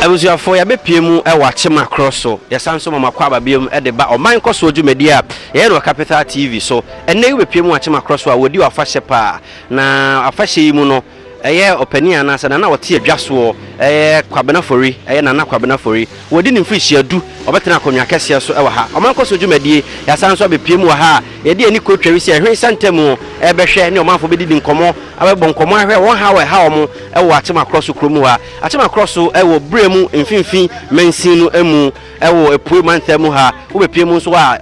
Abusuafo, yɛabepue mu wɔ Akyema Kro so. Yɛsan nso ma mo akwaaba biom de ba ɔman nkɔsoɔ dwumadie a yɛyɛ no wɔ Capital TV so. Ɛnnɛ yi wobepue mu wɔ Akyema Kro so a wɔdi afahyɛ paa. Na afahyɛ yi mu no, ɛyɛ ɔpanin anaa sɛ nana a ɔte adwa soɔ, ɛyɛ Kwabena Fori, ɛyɛ Nana Kwabena Fori. Wadi ne mfirihyia du, ɔbɛtena akonnwa kɛseɛ so wɔ ha. Ɔman nkɔsoɔ dwumadie, yɛasan nso abepue mu wɔ ha a yɛde ani kotwa wi sɛ ɛhwene sɛ ntamu rebɛhwɛ ne ɔmanfoɔ bɛdidi nkɔmmɔ, abɛbɔ nkɔmmɔ ahwɛ wɔn haw a ɛha wɔn, wɔ Akyema Krɔso kuro mu ha. Akyema Krɔso wɔ Brɛ mu mfimfini mansin no mu wɔ Apuei mantam mu ha. Wobɛpue mu nso a,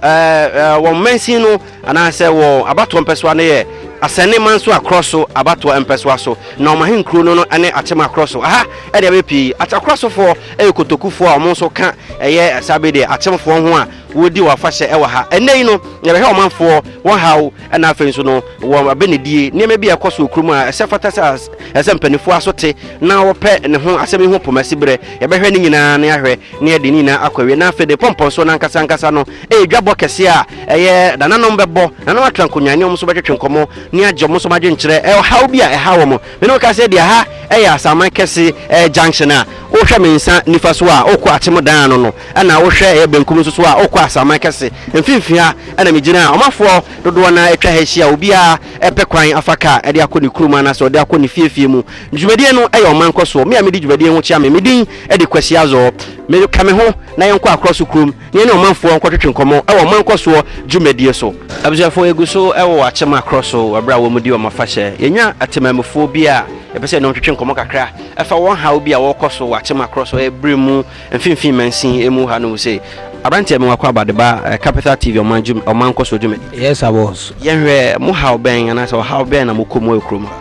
wɔn mansin no anaasɛ wɔn abatoɔ mpɛsoa no yɛ Asɛnne Mansoa Krɔso abatoɔ mpɛsoa so, na wɔn ahenkuro no ne Akyema Krɔso. Aha deɛ bɛyɛ pii Akyakrosofoɔ yɛ Kotokufoɔ a wɔn nso ka ɛyɛ saa bi deɛ Akyemfoɔ ho a, wɔredi wɔn afahyɛ wɔ ha ɛnɛ yi no yɛbɛhwɛ ɔmanfoɔ wɔn haw ɛna afei nso no wɔn abɛnedie nneɛma bi a ɛkɔ so okurum a ɛsɛ fata sɛ ɛsɛ mpanimfoɔ aso te na wɔpɛ ne ho asɛm yi ho pɔmasi berɛ yɛbɛhwɛ ne nyinaa ne ahwɛ ne yɛde ne nyinaa akɔ awie na afei de pɔmpɔnsoɔ no ankasa ankasa no ɛyɛ dwabɔ kɛseɛ a ɛyɛ nananom bɛbɔ nananom atra nkonnwa ne wɔn nso bɛtwetwe nkɔmmɔ ne agye wɔn nso adwenkyerɛ ɛhaw bi a ɛha wɔn Me ne wo ka sɛ deɛ ha yɛ Asaman kɛse junction a, wohwɛ me nsa nifa so a, wokɔ Akyem dan ano no, ɛna wohwɛ yɛ benkum nso so a, wokɔ Asaman kɛse. Mfimfini ha na me gyina a, ɔmafoɔ dodoɔ no ara atwa ha ahyia a obiara pɛ kwan afa car de akɔ ne kurom anaasɛ ɔde akɔ ne fie fie mu. Dwumadie no yɛ ɔman nkɔsoɔ. Me a medi dwumadie ho kyea me, me din de Kwasi Azor. Me ka me ho na yɛnkɔ Akorɔso kurom. Yɛne ɔmanfoɔ nkɔtwetwe nkɔmmɔ wɔ ɔman nkɔsoɔ dwumadie so. Abusuafoɔ yɛgu so wɔ wɔ akyem akorɔ so wɔ berɛ a wɔn di wɔn afahyɛ. Yɛnya atemamufoɔ bi a yɛpɛ sɛ yɛne wɔn twetwe nkɔmmɔ kakra fa wɔn haw bi a wɔrekɔ so wɔ akyem akorɔ so ɛberɛ mu mfimfini mansin mu ha nom se Abranteɛ me wako aba de ba Capital TV ɔman dwuma ɔman nkɔsoɔ dwumadie. Yes I was. Yɛnhwɛ mo haw bɛn anaasɛ ɔhaw bɛn na mo kɔ mu wɔ kurom ha?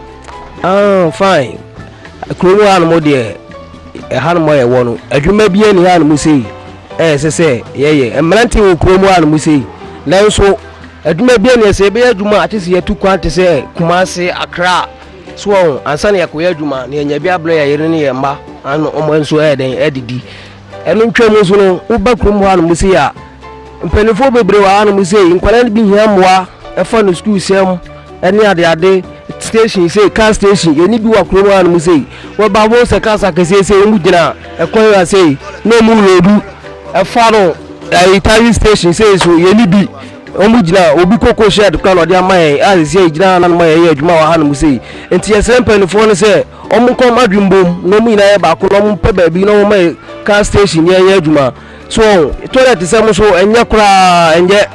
Ah fine kurom ha nom deɛ ɛha nom a yɛwɔ no adwuma biara nni ha nom sei. a ɛsɛ sɛ yɛyɛ. Mmerante wɔ kurom ara nom sei, nanso adwuma biara nni hɔ. Sɛ yɛbɛyɛ adwuma a, agye sɛ yɛtu kwan te sɛ Kumasi, Accra, so wɔn ho, ansa na yɛakɔyɛ adwuma na yɛanya bi abrɛ yɛn yere ne yɛn mma ano, wɔn nso ayɛ dɛn adidi. Ɛno ntwam nso no, woba kurom hɔ ara nom sei a, mpanimfoɔ bebree wɔ ha nom sei, nkwadaa no bi hia mmoa. Ɛfa no sukuu sɛm ɛne adeade station sei car station yɛne bi wɔ kurom hanom sei wɔba wɔn sɛ cars akɛseɛ sei wɔn gyina ɛkwan wa sei na wɔn loodu ɛfa no ɛyi tari station sei so yɛne bi wɔn gyina obi koko shed kora na ɔde ama yɛn a sisi yɛ gyina hanom a yɛyɛ adwuma wɔ hanom sei nti yɛsrɛ mpanimfoɔ no sɛ wɔn nkɔm adwimbom na wɔn nyinaa yɛ baako na wɔn pɛ baabi na wɔn ma yɛ car station yɛn yɛ adwuma. So wɔn toilet te sɛ mo so ɛnyɛ koraa ɛnyɛ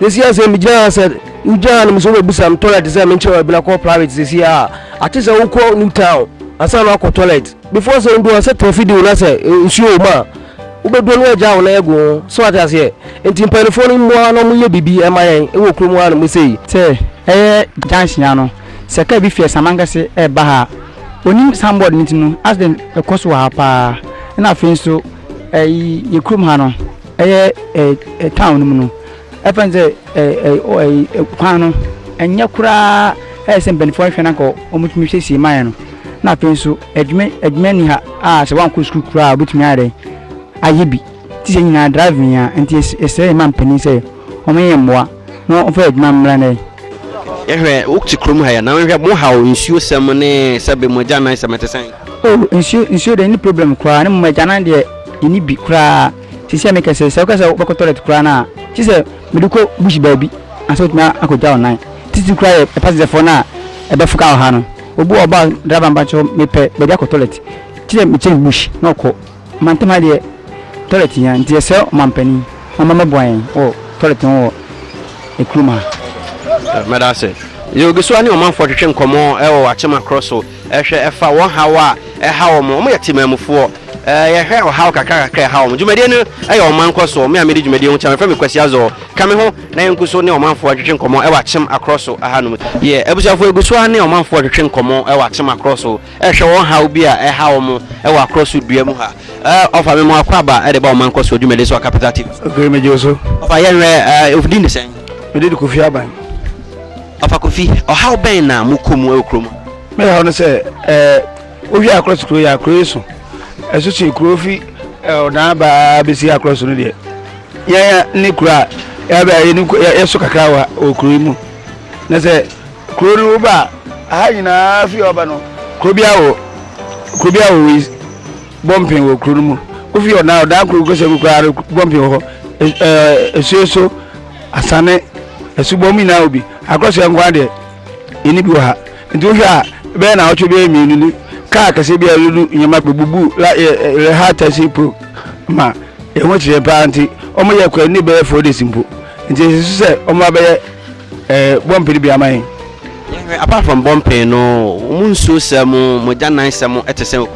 sisi asɛ mi gyina ha sɛ wogyina ha no mo so bɛ bisa mi toilet te sɛ mi nkyɛn ɛbi na kɔ private sisi a ate sɛ wokɔ new town asan na akɔ toilet before sɛ ndu asɛ tɛfi di wona sɛ nsuo wɔm a wobɛdu no agya wɔn ɛgu ho so ate aseɛ nti mpanimfoɔ no mmoa na wɔyɛ biribi ɛma yɛn ɛwɔ kurom ha no mo sei. sɛ ɛyɛ junction ano sɛ kaa bi fi Asamankɛse ɛreba ha a onim signboard no ti no accident ɛkɔ so wɔ ha paa ɛna afei nso. Ɛyi yɛ kurom ha no ɛyɛ ɛɛ town no mu no ɛfɛ n sɛ ɛɛ ɛɛ kwan no ɛnyɛ koraa ɛyɛ sɛ mpanyinfoɔ ahwɛ na nka wɔn tumi siesie maa yɛ no na afei nso adwuma adwuma ni ha a sɛ wɔn ankɔ sukuu koraa a wɔbɛtumi ayɛ dɛ ayɛ bi ti sɛ nyinaa driving a nti ɛsɛ yɛ ma mpanyin sɛ wɔn yɛ mmoa. na wɔmfa yɛ adwuma mmra nnɛ. Yɛhwɛ, wote kurom ha yi a, na yɛhwɛ mo haw nsuosɛm ne sɛbe mo agyanan sɛm ɛte sɛn? Oh, nsuo, nsuo deɛ ɛnni problem koraa, ne mmom agyanan deɛ yɛnni bi koraa. Seesei a meka sɛ, sɛ woka sɛ wobɛkɔ toilet koraa no a, gye sɛ mede kɔ bush baabi ansa wotumi akɔgya wo nan. Titiri koraa yɛ passenger-foɔ no a ɛbɛfoka wɔ ha no, obi wɔ hɔ a ɔba a, driver mpakyɛw mepɛ baabi akɔ toilet, gye sɛ mekyerɛ no bush na ɔkɔ. Mantam ha deɛ toilet hia nti yɛsrɛ ɔmanpanin ɔmma mɛboa yɛn wɔ toilet ho wɔ kurom ha. Medase. Yogisua ne ɔmanfoɔ twetwe nkɔmmɔ wɔ Wakyema korɔ so hwɛ ɛfa wɔn haw a ɛha wɔn. Wɔn yɛ Temanmufoɔ. Yɛhwɛ ɔhaw kakra kakra a ɛha wɔn. Dwumadie no yɛ wɔn mankɔsoɔ. Me a medi dwumadie ho kyɛm, yɛfrɛ me Kwasi Azor. Ka me ho na yɛnku so ne ɔmanfoɔ ntwetwe nkɔmmɔ wɔ Akyem akorɔ so ahanom. Yɛ abusuafoɔ Yogisua ne ɔmanfoɔ twetwe nkɔmmɔ wɔ Akyem akorɔ so. Hwɛ wɔn haw bi a ɛha wɔn wɔ akorɔ so dua mu ha. Ɔfa me mo akwaaba de ba ɔman nkɔ soɔ dwumadi so wɔ Capital TV so. Okay, me gye so. Ɔfa yɛn hwɛ, wo din de sɛn? Me din de Kofi Aban. Ɔfa Kofi, ɔhaw bɛn na mo kɔ mu wɔ kuro mu? Me haw no sɛ, ɛɛ, wohwɛ akorɔ so kuro yɛ akorɔ yi so. Ɛso so kuro fi ɔdan aba bɛsi akorɔ so no deɛ. Yɛn ne kuro a yɛabɛ yɛ so kakra wɔ kuro yi mu. Na sɛ Kuro no wo ba a, ha nyinaa fi ɔba no. Kuro bi awo, kuro bi awo wei bɔ mpen wɔ kuro no mu. Wofi ɔdan ɔdan kuro kɔsɛ mu koraa no bɔ mpen wɔ hɔ. Esuo so, asane, asubɔ mu nyinaa wɔ bi. Akɔsɛ nko adeɛ, ɛni bi wɔ ha. Nti wohwɛ a, bɛyɛ na awɔtwe bɛyɛ mmienu ni. Kaa kɛseɛ bi a ɛlulu nneɛma bɛbubu la yɛ ha tɛsi po ma ɛho kyerɛ paa nti wɔyɛ kɔ ɛni bɛyɛ four days mpo. Nti ɛsɛ so sɛ wɔn abɛyɛ Eh, bɔmpene bia ma yɛn. Yɛhwɛ apart from bɔmpene no, wɔn nsuo sɛ mo mo gyanan sɛ mo ɛte sɛ.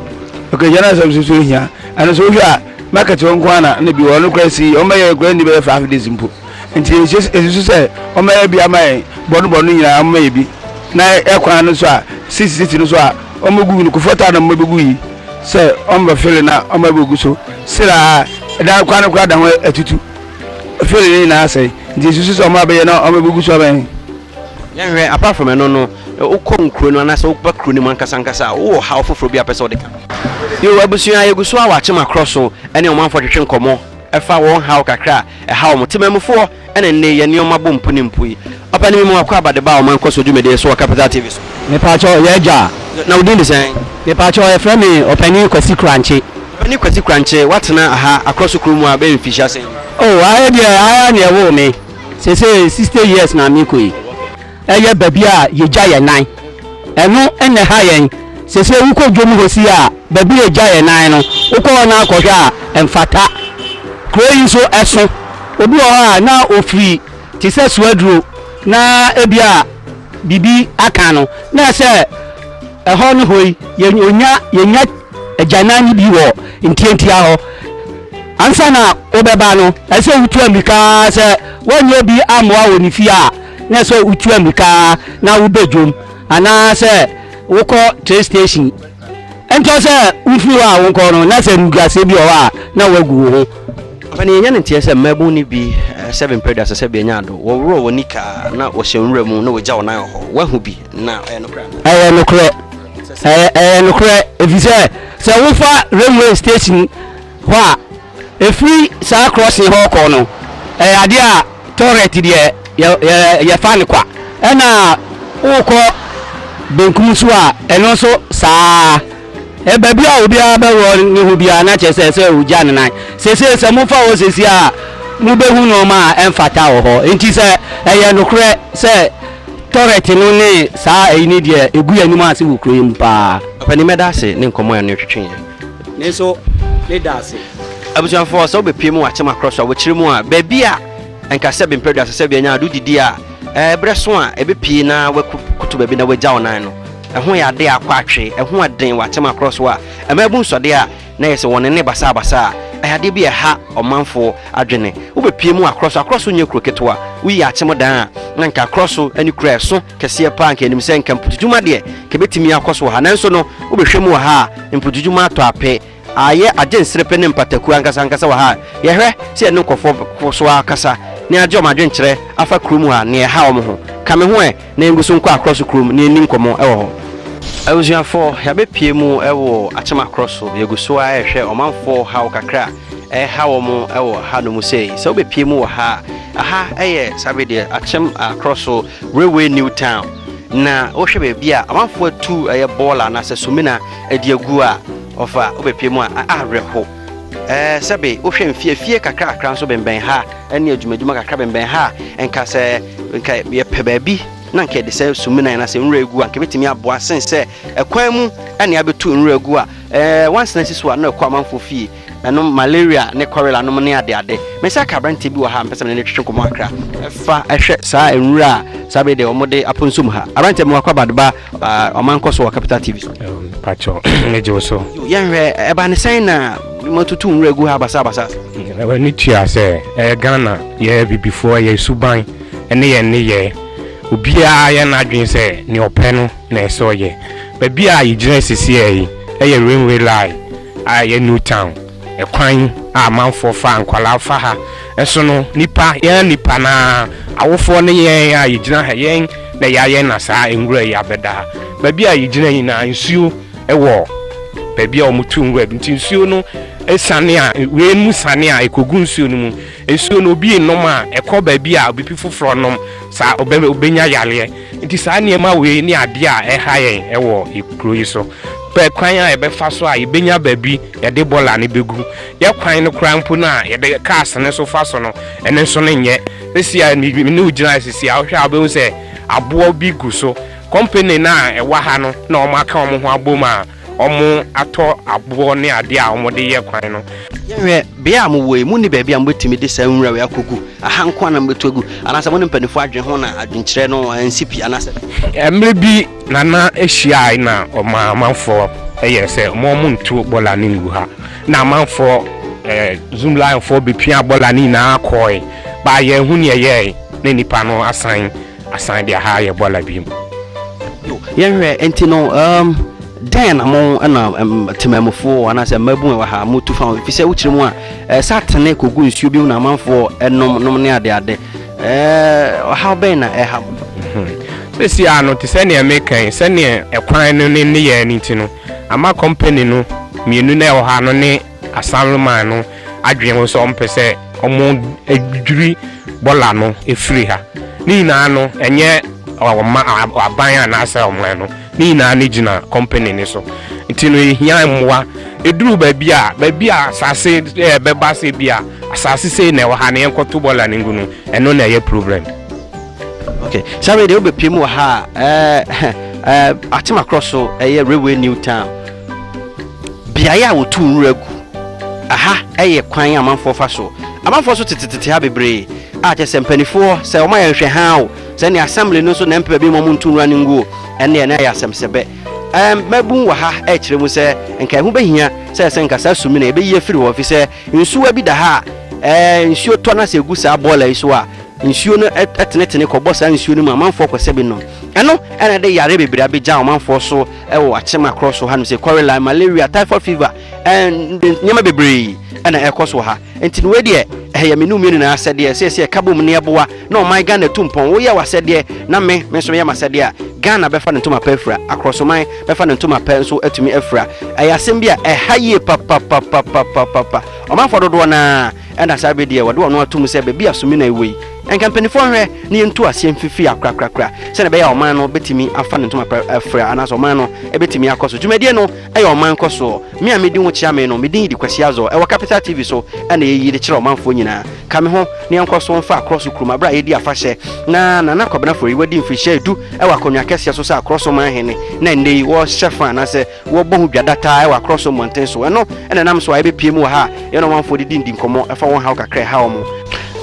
Okay, gyanan sɛ mo nso hia. Ɛno so wohwɛ a market hɔ nko ana na bi wɔ no kora si wɔn bɛyɛ kora ni bɛyɛ five days mpo. Nti ɛsusu sɛ wɔn bɛyɛ bi ama yɛn bɔno bɔno nyinaa wɔn bɛyɛ bi na ɛkwan no so a sisi sisi no so a wɔn bɛgu no kofɔ taa na wɔn bɛgu yi sɛ wɔn bɛfele na wɔn bɛgu so siraa ɛdan kwan no kora da ho atutu. Afei de ne nyinaa asɛe. Nti esusu sɛ wɔn a bɛyɛ na wɔbɛgugu so abɛn. Yɛnhwɛ, apart from ɛno no, wokɔ nkuro no anaasɛ woba kuro no mu ankasa ankasa a, wowɔ ɔhaw foforɔ bi a wopɛ sɛ wode ka? Yoo, abusua a yɛgu so a wɔakyem akɔ so ne ɔmanfoɔ twetwe nkɔmmɔ fa wɔn haw kakra a ɛha wɔn. Temanmufoɔ na nnɛ yi yɛn nneɛma bɔ mpu ne mpu yi. Papa ne me mu akɔ aba de ba ɔman nkɔso dwumadie so wɔ Capital TV so. Mepaakyɛw, yɛ agya a? Na wo din de sɛn? Mepaakyɛw, yɛfrɛ me Ɔpanin Kwasi Kurankye. Ɔpanin Kwasi Kurankye, woatena aha Akorɔso kuro mu a bɛyɛ mfirihyia sɛn ni? Oh, aha deɛ, aha ara na yɛwoo me. Seesei sixty years na mekɔ yi. Ɛyɛ baabi a yɛgya yɛn nan. Ɛno na ɛha yɛn. Seesei wokɔ dwom hɔ si a, baabi a yɛgya yɛn nan no, wokɔ hɔ no ara kɔhwɛ a, ɛmfata. Kuro yi nso, ɛso. Obi wɔ hɔ a, na ɔfiri te sɛ soa aduro na ebia biribi aka no na ɛsɛ ɛhɔ ne hɔ yi yɛnya yɛnya agyanan no bi wɔ ntiantia hɔ ansa na wobɛba no ɛsɛ wotu ammirika sɛ wɔnyɛ bi ammoa wɔ ne fie a na ɛsɛ wotu ammirika na wobɛ dwom anaasɛ wokɔ train station ɛntɔ sɛ wofiri hɔ a wonkɔ no na sɛ ruguaseɛ bi wɔ hɔ a na woagu wo ho. Afei na yɛnya ne nteɛ sɛ mmaabun no bi sɛ bempere da sɛ sɛ bɛanya ado, wɔworɔ wɔn nika na wɔhyɛ nwura mu na wɔgya wɔn nan wɔ hɔ. Woahu bi? Na ɛyɛ nokorɛ anaa? Ɛyɛ nokorɛ. Ɛyɛ nokorɛ ɛfiri sɛ sɛ wofa railway station hɔ a, Ɛfiri saa krɔsen hɔ rekɔ no, ɛyɛ adeɛ a tɔrɛt deɛ yɛ yɛ yɛfa no kwa. Ɛna worekɔ benkum nso a, ɛno nso saa ara. Baabi a obiara bɛwɔ ne ho biara na kyerɛ sɛ sɛ ɔgya ne nan. Seesei sɛ mofa hɔ seesei a, mobɛhu nnoɔma a ɛmfata wɔ hɔ. Enti sɛ ɛyɛ nokorɛ sɛ tɔrɛt no ne saa ayi no deɛ, ɛgu yɛn anim ase wɔ kuro yi mu pa ara. Papa ni mɛda ase ne nkɔmmɔ a ɛno twetwe yɛn. Ne nso ne da ase. Abusuafoɔ, sɛ wobɛpie mu wɔ akyem akorɔ so a, wɔkyerɛ mu a, baabi a nka sɛ bempadua sɛ sɛ bianya ado didi a, ɛberɛ so a ɛbɛpie na wakoto baabi na wagya wo nan no, ɛho yɛ adeɛ a akɔ atwe, ɛho ɛden wɔ akyem akorɔ so a, ɛma ɛbu nsɔdeɛ a na yɛ sɛ wɔn nne basaa basaa, ɛyɛ adeɛ bi a ɛha ɔmanfoɔ adwene. Wobɛpie mu wɔ akorɔ so, akorɔ so nyɛ kuro ketewa, woyi akyem dan a, na nka akorɔ so ne kuro a ɛso kɛseɛ paa, nka yɛnim sɛ nka mputudwuma deɛ nka ɛbɛtumi akɔ so wɔ ha, nanso no wobɛhwɛ mu wɔ ha a, Mpututu mu atɔ ape aayɛ agye nserepe ne mpataku ankasa ankasa wɔ ha a yɛhwɛ sɛ yɛne nkurɔfoɔ kɔ so ara kasa na yɛagye wɔn adwenkyerɛ afa kuro mu ha nea ɛha wɔn ho. Ka me ho ɛ na yɛngu so nkɔ Akorɔso kurom na yɛnni nkɔmmɔ wɔ hɔ. Abusuafoɔ, yɛabɛpue mu wɔ Akyem Akorɔso. Yɛgu so ara rehwɛ ɔmanfoɔ haw kakra a ɛreha wɔn wɔ hanom sei. Sɛ wobɛpue mu wɔ ha a, ha yɛ Savedeɛ Akyem Akorɔso. Railway New Town, na wohwɛ baabi a amanfoɔ atu ɛyɛ bɔɔla anaasɛ sumina de agu a, ɔfa wobɛpue mu a, awerɛho. Ɛɛ, sɛbe wohwɛ mfeafie kakrakra nso bɛnbɛn ha ne adwumadwuma kakra bɛnbɛn ha a, nka sɛ nka yɛpɛ baabi na nka yɛde sɛ sumina anaasɛ nwura agu a, nka ɛbɛtumi aboa sen sɛ ɛkwan mu ne abɛtu nwura agu a, ɛɛ, wansena si so a na ɛkɔ amanfoɔ fie. Ɛnom malaria ne kɔrela nom ne adeade. Me nsa ka aberanteɛ bi wɔ ha a mepɛ sɛ me ne no twetwe nkɔmmɔ kakra. Fa hwɛ saa nwura a saa bere deɛ wɔde aponso mu ha. Aberanteɛ bi wakɔ abad ba ɔmankɔ so wɔ Capital TV so. Pakyɛw, megye wo so. Yɛnhwɛ, ɛba ne sɛn na moatutu nwura gu ha basabasa? W'ani tua sɛ ɛyɛ Ghana, yɛyɛ abibifoɔ, yɛn suban ne yɛn nneyɛɛ, obiara ayɛ n'adwene sɛ nea ɔpɛ no na ɛsɛ ɔyɛ. Baabi a yɛgyina sesieɛ yi yɛ rainway line a ɛyɛ new town ɛkwan a amanfoɔ fa a nkwadaa fa ha nso no nnipa yɛn nnipa no ara awofoɔ ne yɛn a yɛgyina ha yɛn na yɛayɛ na saa nwura yi abɛda ha baabi a yɛgyina nyinaa nsuo wɔ baabi a wɔtu nwura bi nti nsuo no sane a wei mu sane a ɛkɔgu nsuo no mu nsuo no obi nnom a ɛkɔ baabi a obipi foforɔ nom saa ɔbɛnya yareɛ Enti saa nneɛma wei ne adeɛ a ɛha yɛn wɔ kuro yi so. Pɛ kwan a yɛbɛfa so a yɛbɛnya baabi yɛde bɔla no bɛgu. Yɛ kwan no koraa mpo no a yɛde cars no nso fa so no, ɛno nso no nyɛ. Seesei a me ne wo gyina ha seesei a, wohwɛ a wobɛhu sɛ aboɔ bi gu so. Company no a ɛwɔ ha no na wɔaka wɔn ho abom a, wɔatɔ aboɔ ne adeɛ a wɔde reyɛ kwan no. Yɛnhwɛ, beaɛ a mowɔ yi, monni baabi a mobɛtumi de saa nwura wei akɔgu? Aha nko ara na mobɛtu agu? Anaasɛ mo ne mpaninfoɔ adwene ho na adwenkyerɛ no ansi pi anaasɛ. Mmerɛ bi Nana hyiaae na ɔmaa amanfoɔ yɛɛ sɛ wɔn nto bɔɔla no ngu ha. Na amanfoɔ, Zoomlionfoɔ bɛpiaa bɔɔla no nyinaa kɔɔe, baa yɛanhu deɛ ɛyɛɛe na nnipa no asan. Asan de aha ayɛ bɔla bi mu. Yo, yɛnhwɛ nti no um, dɛn na mo na um, temamufoɔ anaasɛ mmabun a wɔ ha motu fa ho ɛfiri sɛ wokyerɛ mu a eh, sɛ atene kɔgu nsuo bi mu na amanfoɔ nom nom ne adeade eh, ɔhaw bɛn na ɛha mo sɛsi a no te sɛ nea meka yi sɛnea ɛkwan no ne nneyɛɛ no nti no ama company no mmienu na ɛwɔ ha no ne Asanlman no adwene ho sɛ wɔmpɛ sɛ wɔdwidwiri bɔla no firi ha. Ne nyinaa no, ɛnyɛ ɔma aban anaasɛ ɔman no, ne nyinaa no gyina kɔmpani no so. Nti no, yɛhia mmoa. Ɛduru baabi a, baabi a asase bɛba sɛ bi a asase sei na ɛwɔ ha na yɛnkɔto bɔla no ngu no, ɛno na ɛyɛ problem. Ok, saa wei deɛ wobɛpue mu wɔ ha a, eh, eh, Atem Akorɔ so, ɛyɛ Railway New Town. Beaeɛ a wɔtu nwura gu. Aha yɛ kwan amanfoɔ fa so. Amanfoɔ nso tetetete ha bebree a kyerɛ sɛ mpaninfoɔ sɛ wɔn ayɛ nhwɛ haa o, sɛ ne assembly no nso na ɛmpɛ baabi ma wɔn ntu nwura no ngu o, ɛnneɛ na ɛyɛ asɛm sɛ bɛ. Ɛɛm, mmabun wɔ ha rekyerɛ mu sɛ nka ɛho bɛhia sɛ ɛsɛ nka saa sumina yi bɛyi afiri hɔ efisɛ nsuwa bi da ha a ɛɛ nsuo tɔ na sɛ egu saa boiler yi so a nsuo no tenetene kɔbɔ saa nsuo no mu a amanfoɔ kɔsɛ bi nom. Ɛno na ɛde yareɛ bebree abegya amanfoɔ so. wɔ akyem akorɔ so hanom sɛ kɔrela, malaria, typhoid fever, ɛnde nneɛma bebree ɛna ɛkɔ so wɔ ha nti no wei deɛ ɛyɛ me numie nyinaa asɛdeɛ sɛ sɛ ɛka bom ne ɛboa na ɔman Ghana tu mpɔn woyɛ wɔ asɛdeɛ na me me nso yɛ ma asɛdeɛ a Ghana bɛfa ne ntoma pɛ afira akorɔsoman bɛfa ne ntoma pɛ nso atumi afira ɛyɛ asɛm bi a ɛha yie papapapapapapa ɔmanfoɔ dodoɔ naa ɛna saa bɛ deɛ wɔde wɔn atom sɛ baabi a sumina ɛwɔ yi Anka mpanimfoɔ nhwɛ na yɛntu aseɛ mfifiri akorakorakora sɛdeɛ ɛbɛyɛ a ɔman no bɛtumi afa ne ntoma pa afira anaasɛ ɔman no bɛtumi akɔ so. Dwumadie no yɛ ɔman nkɔsoɔ. Me a medi ho kyea me no, me din de Kwasi Azor. Ɛwɔ Capital TV so na yɛyi de kyerɛ ɔmanfoɔ nyinaa. Ka me ho na yɛnkɔ so mfa akorɔ so kurom berɛ a yɛredi afahyɛ na Nana Kwabena Forey wadi mfirihyia du wɔ akonnwa kɛseɛ so sɛ akorɔ so manhene na nnɛ yi wɔrehyɛ fa anaasɛ Wɔbɔ ho dwa da taa wɔ akorɔ so mmɔnten so. Ɛno na ɛnam so a yɛbɛpue mu wɔ ha a yɛne ɔmanfoɔ didi ndi nkɔmmɔ fa wɔn haw kakra a ɛha wɔn.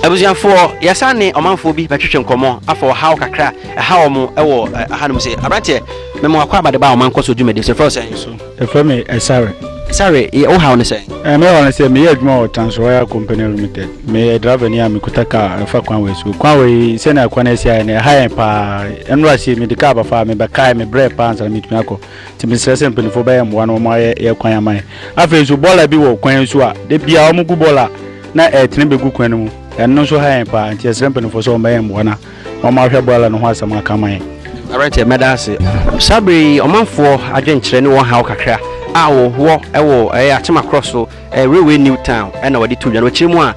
Abusuafoɔ, yɛsan ne ɔmanfoɔ bi bɛtwetwe nkɔmmɔ afa ɔhaw kakra a ɛha wɔn wɔ hanom se. Aberanteɛ, mema wo akwaaba de ba ɔman nkɔsoɔ dwumadie so. Yɛfrɛ wo sɛn? So, yɛfrɛ me Ɛsare. Ɛsare, yɛ, wo haw ne sɛn? Ɛɛ, me haw ne sɛ, meyɛ adwuma wɔ Trans Oil Company Limited. Meyɛ drivani a mekuta kaa ɛfa kwan wei so. Kwan wei, sɛnea kwan no asi ayɛ no, ɛha yɛn paa. Ɛnnora sei, mede kaa ba fa a, mebɛkae, mebrɛɛ paa ansa na metumi akɔ. Nti mesrɛ sɛ mpanimfoɔ bɛyɛ mmoa na wɔayɛ yɛ kwan ama yɛn. Afei nso bɔɔla bi wɔ kwan so a da biara wɔgu bɔɔla na ɛretene bɛgu kwan no mu. Ɛno nso ha yɛn paa nti yɛsrɛ mpanimfoɔ sɛ wɔbɛyɛ mmoa na wɔahwɛ bɔɔla no ho asɛm aka ama yɛn. Aberanteɛ, mɛda ase. Saa berɛ yi, ɔmanfoɔ adwenkyerɛ ne wɔn haw kakra a wɔwɔ wɔ ɛyɛ Atema Krɔso. Railway New Town na wɔde too dwa no. Akyiri mu a,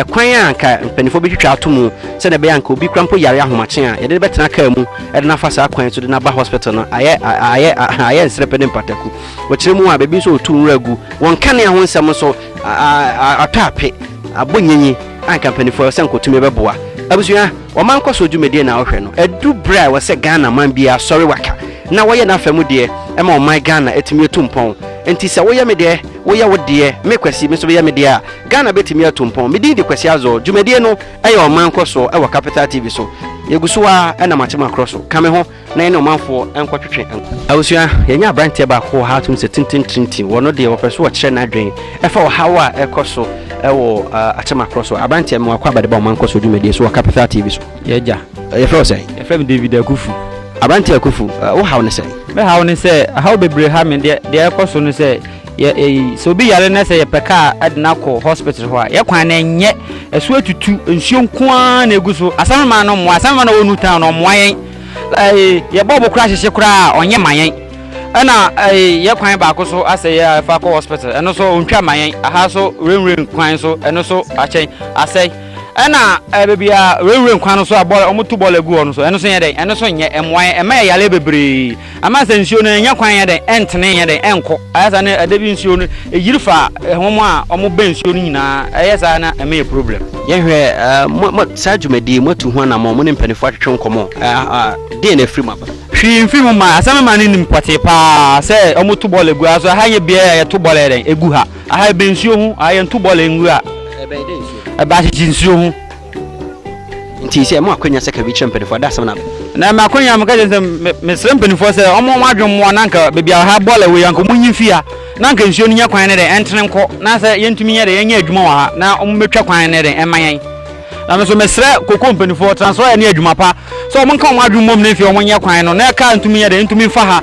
kwan a anka mpanimfoɔ bɛtwitwa ato mu sɛdeɛ ɛbɛyɛ a anka obi kora mpo yare ahomakye a, yɛde no bɛtena kaa mu de no afa saa kwan so de no aba hospital no, ayɛ ayɛ ayɛ nsrɛpɛ ne mpataku. Akyiri mu a, baabi nso a wɔtu nwura gu wɔ nkanea ho nsɛm nso atɔ ape, abɔ nyinyi a anka mpanimfoɔ sɛ anka wɔtumi bɛboa abusua. Ɔman nkɔsoɔ dwumadie na wohwɛ no, adu berɛ a ɛwɔ sɛ Ghana man biara sɔre waka na wɔyɛ n'afa mu deɛ ɛma ɔman Ghana atumi atu mpɔn. Nti sɛ woyɛ me deɛ, woyɛ wo deɛ, me Kwasi me nso meyɛ me deɛ a, Ghana bɛtumi atu mpɔn. Me din de Kwasi Azor. Dwumadie no yɛ Ɔman Nkɔsoɔ wɔ Capital TV so. Yɛgu so ara na mate makorɔ so. Ka me ho. na yɛne ɔmanfoɔ nkɔtwetwe nko. Abusua, yɛanya aberanteɛ baako wɔ ha a wotumi sɛ tenten trintin. Ɔno deɛ ɔpɛ so ɔkyerɛ n'adwen ɛfa ɔhaw a ɛkɔ so ɛwɔ akyɛmakorɔ so. Aberanteɛ mmoa kɔ abɛde ba ɔman kɔ so dwumadie so wɔ Capital TV so. Yɛagya. Yɛfrɛ wo sɛn? Yɛfrɛ me David Akufu. Aberanteɛ Akufu, wo haw ne sɛn? Me haw ne sɛ, haw bebree ha me. Deɛ ɛkɔ so ne sɛ. Yɛ eyi, Sɛ obi yare na sɛ yɛpɛ kaa de no akɔ hospital hɔ a, yɛ kwan no ɛnyɛ. Ɛso atutu, nsuo nko ara na ɛgu so. Asɛmframa no mmoa, asɛmframa no a ɔwɔ Newtown no ɔmmoa yɛn. Ɛɛ, yɛbɔ bo koraa hyehye koraa a, ɔnyɛ ma yɛn. Ɛna ɛɛ, yɛ kwan baako so asɛ yɛ a ɛfa kɔ hospital, ɛno nso ɔntwa ma yɛn. Aha nso rainway kwan nso, ɛno nso akyɛn, asɛe. Ɛna ɛɛ, baabi a rainway kwan no nso a bɔɔla, wɔto bɔɔla gu hɔ no nso, ɛno nso nyɛ dɛn, ɛno nso nyɛ, ɛmmoa yɛn, ɛma yɛ yareɛ bebree. Ama sɛ nsuo no ɛnnya kwan nyɛ dɛn, ɛntene nyɛ dɛn, ɛnkɔ. Ayɛ saa na ɛda bi nsuo no ɛyiri fa wɔn a wɔbɛn nsuo no nyinaa. Ɛyɛ saa na ɛma yɛ problem. Yɛnhwɛ mo saa dwumadie yi moatu ho anammɔn? Mo ne mpaninfoɔ atwetwe nkɔmmɔ? Deɛn na afiri mu aba? Hwee mfiri mu mmaeɛ. Asɛm mmaa no nim pɔtee pa ara sɛ wɔto bɔɔl agu ha. So aha nyɛ beaeɛ a yɛto bɔɔl yɛ dɛn? Ɛgu ha. Aha ɛbɛn nsuo ho. Aha yɛnto bɔɔl ngu ha. Ɛbɛn dɛn nsuo ho? Ɛbɛn akyekye nsuo ho. nti sɛ mo akwanya sɛ ka bi kyerɛ mpanimfoɔ ada asɛm no aba na me akwanya meka kyerɛ sɛ mesrɛ mpanimfoɔ sɛ ɔmo ɔmo adwen mmoa na anka baabi a ha bɔɔla wei anka ɔmo nyi mfi ha na anka nsuo no nyɛ kwan ne dɛ ɛntene nkɔ na sɛ yɛntumi nyɛ dɛ yɛnyɛ adwuma wɔ ha na ɔmo mɛtwa kwan ne dɛ ɛma yɛn na me so mesrɛ koko mpanimfoɔ transfer ne adwuma pa sɛ ɔmo nka ɔmo adwen mmom ne mfi ɔmo nyɛ kwan no na ɛka ntumi nyɛ dɛ ntumi mfa ha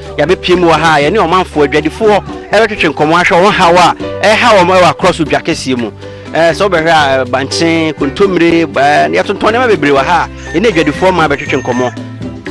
Yɛabepue mu wɔ ha a yɛne ɔmanfoɔ adwadifoɔ retwetwe nkɔmmɔ ahwɛ wɔn haw a ɛreha wɔn wɔ akorɔ so dwa kɛseɛ mu. Ɛɛ sɛ wobɛhwɛ a eh, bankye, kontommire, ɛɛ eh, yɛtontɔn nneɛma bebree wɔ ha a yɛne adwadifoɔ ma bɛtwetwe nkɔmmɔ.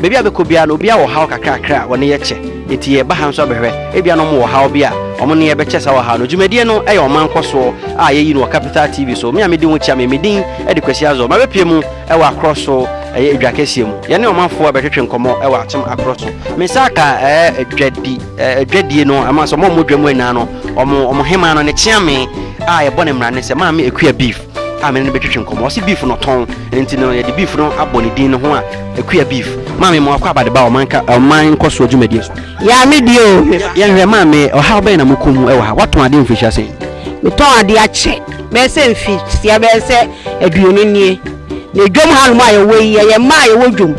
Baabi a bɛkɔ biara no obiara wɔ haw kakrakra a wɔne yɛ kyɛ. Enti yɛba ha nso abɛhwɛ ebia na wɔn wɔ haw bi a wɔn ne yɛ bɛkyɛ saa wɔ ha no. Dwumadie no yɛ ɔman nkɔsoɔ a yɛyi no wɔ Capital TV so. Me a medi ho kyia me, me din de Kwasi Azor. Mabɛpue mu wɔ akorɔ so ɛyɛ edwa kɛseɛ mu. Yɛne ɔmanfoɔ a bɛtwetwe nkɔmɔ wɔ atem akorɔ so. Me nsa aka ɛɛ edwadi ɛɛ edwadie no ɛma sɛ ɔmo a ɔmo wɔ dwa mu nyinaa no ɔmo ɔmo hemaa no ne kyeame a yɛbɔ ne mmara ne sɛ maame Akua beef a mene no bɛtwetwe nkɔmɔ. Ɔse beef no ɔtɔn nti no yɛde beef no abɔ ne din no ho a Akua beef. Maame ma wakɔ abade ba wɔ ɔman ka ɔman nkɔsoɔ dwumadie so. Yaa me deɛ o. Yɛnhwɛ maame ɔhaw bɛn na mokɔ mu wɔ ha? Watɔn adeɛ wɔ mfirihyia sɛn? Metɔn adeɛ akyɛ. Bɛyɛ sɛ mfitiaseɛ bɛyɛ sɛ aduonu nie na dwam ha nom a yɛwɔ yi yɛyɛ mmaa a yɛwɔ dwam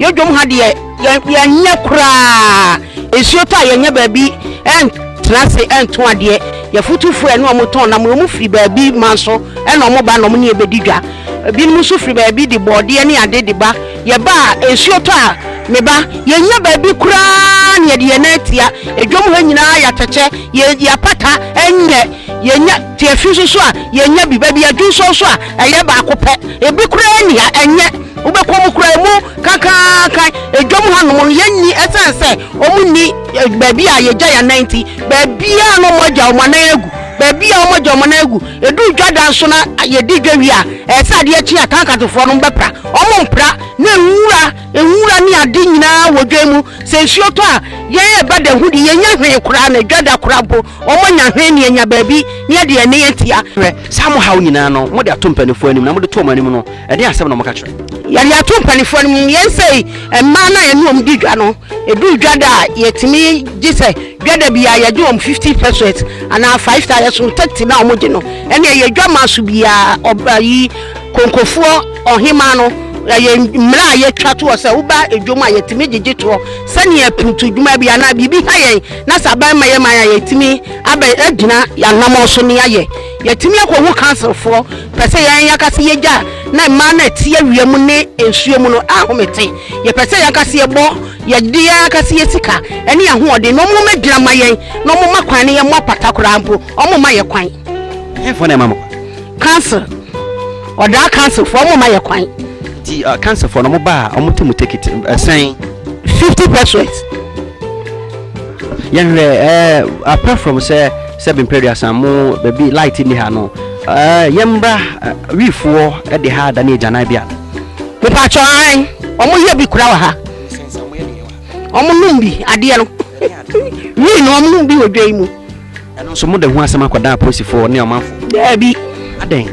yɛ dwam ha deɛ yɛnyɛ koraa nsuo tɔ a yɛnyɛ baabi ɛntena ase ɛnto adeɛ yɛfotofoɔ ɛne ɔmo tɔn nam ɔmo firi baabi ma so ɛna ɔmo ba na ɔmo ne yɛbɛdi dwa ebinom nso firi baabi de bɔɔdeɛ ne ade de ba yɛba a nsuo tɔ a me ba yɛnyɛ baabi koraa ne yɛde yɛn nan atia edwam ha nyinaa yɛatɛkyɛ yɛ yɛapata ɛnyɛ Yɛnya tiafi nso so a, yɛnya bi. Baabi a dwonsɔn so a, ɛyɛ baako pɛ. Ebi koraa nni ha. Ɛnyɛ. Wobɛkɔ mu koraa, emu kakraakan. Edwam hanom no, yenni esiane sɛ wɔnni baabi a yegya yɛn anan nti. Baabiara na wɔagyaw wɔn anan agu. Baabiara a wɔagyaw wɔn anan agu. Edu dwadan so na yedi dwa wie a, ɛyɛ sɛ adeɛ kye a, Kankatfoɔ no bɛpra. Wɔmpra. Na nwura, nwura ne ade nyinaa wɔ dwa yi mu. Sɛ nsuo tɔ a, yɛn ɛbɛda hu de, yennya hwee koraa, na edwa da koraa mpo, Wɔanya ahwenneɛ, anya baabi, ne adi ɛnne atia. Hwɛ, saa mo haw nyinaa no, mode ato mpanimfoɔ anim, na mode to wɔn anim no, ɛdeɛn asɛm na moka kyerɛ? Yɛde ato mpanimfoɔ anim. Yɛn sei, mmaa no a yɛne wɔn di dwa no, ɛduru dwa da a, yɛtumi gye sɛ dwa da biara yɛgye wɔn fifty pesewas anaa five thousand, yɛsom thirty na wɔgye no. Ɛnneɛ yɛ dwammaa so biara, ɔba yi, konkofoɔ, ɔhemaa no, ɛyɛ mmara a yɛtwa toɔ sɛ woba dwam a, yɛtumi gyegye toɔ sɛdeɛ putudwuma bi anaa biribi ha yɛn. na sɛ aban ma yɛ man a yɛtumi abɛ agyina yɛanamɔ so ne ayɛ yɛtumi akɔhu councilfoɔ pɛ sɛ yɛn yɛka sɛ yɛgya na mmaa no ɛte awia mu ne nsuo mu no ahomete yɛpɛ sɛ yɛka sɛ yɛbɔ yɛde aka sɛ yɛ sika ɛne ahoɔden na ɔmo mɛgyina ma yɛn na ɔmo ma kwan ne yɛ mo apata koraa mpo ɔmo ma yɛ kwan. Ɛhɛnfoɔ na ɛma mo kwan. Council ɔdaa council fo ɔmo ma yɛ kwan. Ti uh, council fo na ɔmo baa ɔmo ti mu tekiti ɛsɛn. fifty percent. yɛn hwɛ ɛɛ uh, apart from sɛ sɛ bimpɛri asan mo baabi light ni ha no ɛɛ uh, yɛn mbra wiifoɔ ɛde ha da ne egya nan bi a. nipa atwa an ɔmo yɛ bi kura wɔ ha ɔmo num bi adeɛ no wii na ɔmo num bi wɔ dwa yi mu. Ɛno nso mode ho asɛm akɔda apolisifoɔ ne ɔmanfoɔ? Daabi. Adɛn?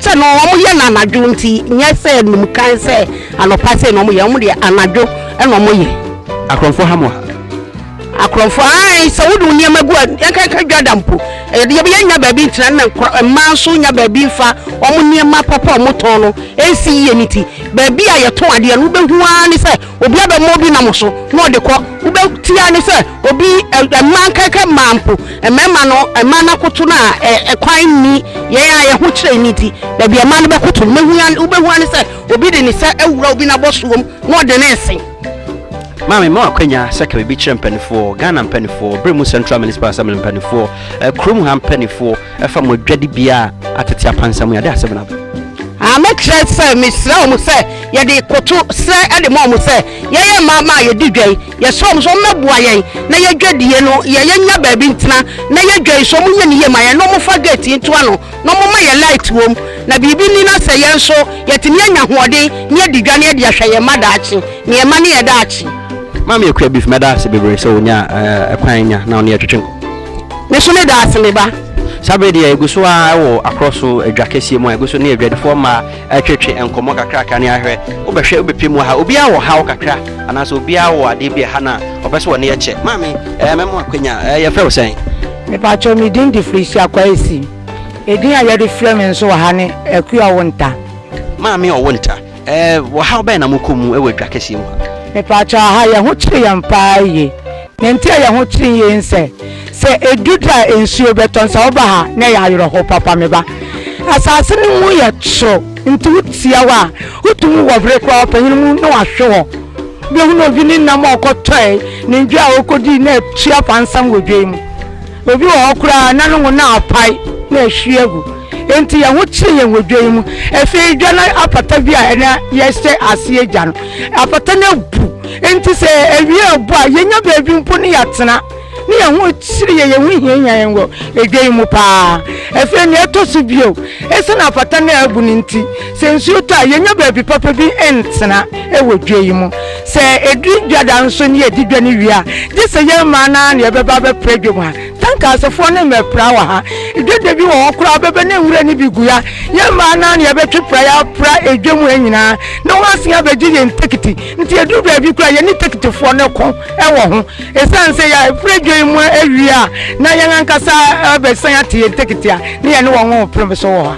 Sɛ no wɔn yɛ no anadwo nti nyɛ sɛ num kan sɛ anɔpa sɛ na wɔn yɛ wɔn deɛ anadwo ɛna wɔn yɛ. Akorɔmfoɔ ha mo ha. Akorɔmfoɔ ayi sɛ wode nneɛma gu a yɛnkanka dwa da mpo ɛdeɛ bi yɛnya baabi ntina na mmaa nso nya baabi nfa wɔn nneɛma papa a wɔtɔn no ɛnsi yie ne ti baabi a yɛtɔn adeɛ no wobɛhu ara ne sɛ Obi abɛma obi nam so na ɔde kɔ, wobɛti ara ne sɛ obi, mmaa nkaeka mmaa mpo, mmarima no, mmaa no akoto no a, ɛkwan nni, yɛn a yɛn ho kyerɛ nni nti, baabi a mmaa no bɛkoto no, wobɛhu ara ne sɛ obi de ne nsa awura obi n'abɔsoɔm na ɔde ne resen. Maame ma akwanya sɛ ka biribi kyerɛ mpanimfoɔ, Ghana mpanimfoɔ, Beremu Central Municipal Assembly mpanimfoɔ, kurom ha mpanimfoɔ, Ɛfa mo adwade bia a atete apansa mu yade asem no aba. Ah me kyerɛ sɛ me srɛ wɔn sɛ yɛde koto srɛ de ma wɔn sɛ yɛyɛ mmaa ma a yɛdi dwa yi yɛsrɛ wɔn sɛ wɔmmɛboa yɛn na yɛdwadie no yɛ yɛnya baabi ntena na yɛ dwa yi so wɔn nyɛ ne yie ma yɛn na wɔn fa gate yi nto ano na wɔn ma yɛ light wɔm na biribi ni na sɛ yɛn nso yɛtumi anya hoɔden ne yɛdi dwa ne yɛde ahwɛ yɛn mma daakye ne yɛn mma ne yɛ daakye. Maame Akua Beef mɛda ase bebree sɛ wɔnya ɛkwan nya na wɔne yɛtwetwe nkɔ. Me so meda ase me ba. Saa berɛ yi deɛ yɛgu so ara wɔ akorɔ so adwa kɛseɛ mu a yɛgu so ne adwadifoɔ mmaa retwetwe nkɔmmɔ kakraka ne ahwɛ wobɛhwɛ wobɛpɛ mu aha obiara wɔ haw kakra anaasɛ obiara wɔ adeɛ bi a ɛha no a ɔpɛ sɛ ɔne yɛkyɛ maame ɛɛ mɛmo akwanya ɛɛ yɛfrɛ wo sɛn? Mepakyɛw me din de Felicia Kwesi. Edin a yɛde frɛ me nso wɔ ha ne Akua Ɔwonta. Maame Ɔwonta, Eh, ɔhaw bɛn na mokɔ mu wɔ dwa kɛseɛ mu ha? Mepaakyɛw aha yɛn ho kyere yɛn paa yie. Nea nti a yɛn ho kyere yie ne sɛ, sɛ edu da a nsuo bɛtɔ no, sɛ woba ha na ɛyɛ awerɛhow papa me ba. Asase no mu yɛ toro nti wotia hɔ a, wotumi wɔ bere koraa ɔpanyin mu na wahwe hɔ. Wobɛhunu obi ne nam a ɔkɔtɔe, ne dwa a ɔkɔdii na atua pansam wɔ dwa yi mu. Obi wɔ hɔ koraa a, na ne ngo no apae na ahwie agu. Enti yɛn ho kyeree yɛn wɔ dwa yi mu. Afei dwa no apata bi a na yɛhyɛ aseɛ gya no, apata no abu. Enti sɛ awia rebɔ a, yɛnya baabi mpo ne yɛatena. Ne yɛn ho kyere yɛn, yɛn ho hiahia yɛn wɔ dwa yi mu paa. Afei nea ɛtɔ so bio, esiane apata no a abu no nti, sɛ nsuo tɔ a, yɛnya baabi papa bi ntena wɔ dwa yi mu. Sɛ ɛduru dwa da nso ne yɛdi dwa no wie a, gye sɛ yɛn mmaa no ara na yɛbɛba abɛpra dwam ha. Tankasefoɔ ne mmɛpra wɔ ha. Dwa da bi wɔ hɔ koraa wobɛba na nwura no bi gu ha. Yɛn mmaa no ara na yɛbɛtwe pra yɛ apra dwam ha nyinaa na wɔasen abɛgye yɛn tekiti. Nti ɛduru baabi koraa yɛne tekitifoɔ no ko wɔ ho. Ɛsiane sɛ yɛapra dwa yi mu awie a na yɛn ankasa abɛsan ate yɛn tekiti a, ne yɛne wɔn repere so wɔ ha.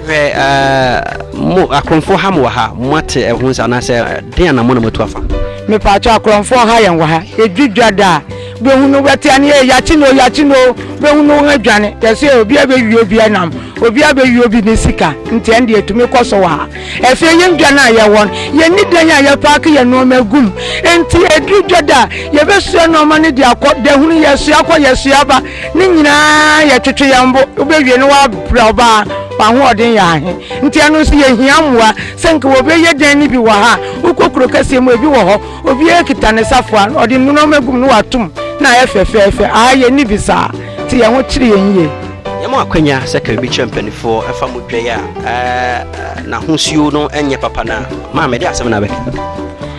Hwɛ ɛɛ mo akorɔmfoɔ ha mo wɔ ha mo ate ɛho nsa anaasɛ den anamɔ na mo atu afa. Mepaakyɛ akorɔmfoɔ ha yɛn wɔ ha yɛdwi dwa daa bɛhu no bɛtea ne yɛ yakye no yakye no bɛhu no wɔn adwane yɛsɛ obi abɛwie obi ɛnam obi abɛwie obi ne sika nti ɛn deɛ tumi kɔ so wɔ ha ɛfɛ yɛn dwa no a yɛwɔ no yɛn ni dan a yɛpaake yɛn nneɛma gum nti ɛdwi dwa daa yɛbɛsua nneɛma no de akɔ dahunu yɛsua kɔ yɛsua ba Ne nyinaa yɛ twetwe yɛn bo, wobewie na wɔabrɛ wo baa, w'ahoɔden yɛ ahe? Nti ɛno nso yehia mmoa. Sɛ nka wɔbɛyɛ dan no bi wɔ ha a, wokɔ kuro kɛseɛ mu, ebi wɔ hɔ, obiara kita ne safoa, ɔde nnuruma agu mu na wato mu na ayɛ fɛfɛɛfɛ. Aha yenni bi saa, nti yɛn ho kyere yɛn yiye. Yɛma wo akwannya sɛ ka biribi kyerɛ mpanimfoɔ ɛfa mo dwa yi a n'ahosuo no nyɛ papa no a. Maame, ɛdeɛn asɛm na wobɛka?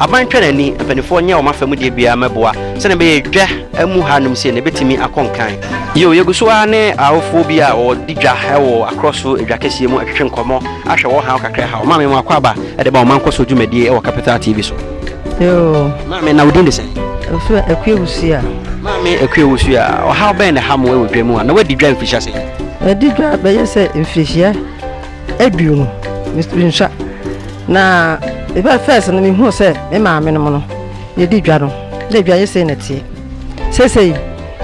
Aban twa n'ani, mpaninfoɔ nyɛ wɔn afa mu deɛ biara mɛboa sɛdeɛ ɛbɛyɛ dwa amu ha nom sei no ɛbɛtumi akɔ nkan. Yio, yɛgu so ara ne awofoɔ bi a wɔdi dwa wɔ akorɔ so dwa kɛseɛ mu atwetwe nkɔmmɔ ahwɛ wɔn haw kakra haw. Maame, mo akwaaba de ba wɔn mankɔ so dwumadie wɔ Capital TV so. Yoo. Maame, na wo din de sɛn? Owusu, Akua Owusua. Maame Akua Owusua, ɔhaw bɛn na ɛha mo wɔ dwa mu a, na woadi dwa mfirihyia sɛn? Madi dwa bɛyɛ sɛ mfirihyia. Aduru no, mensua. Na ɛbɛɛ fɛs no mehuu sɛ me maame nom no yɛdi dwa no na edwa yɛ sei na ɛteɛ. Seesei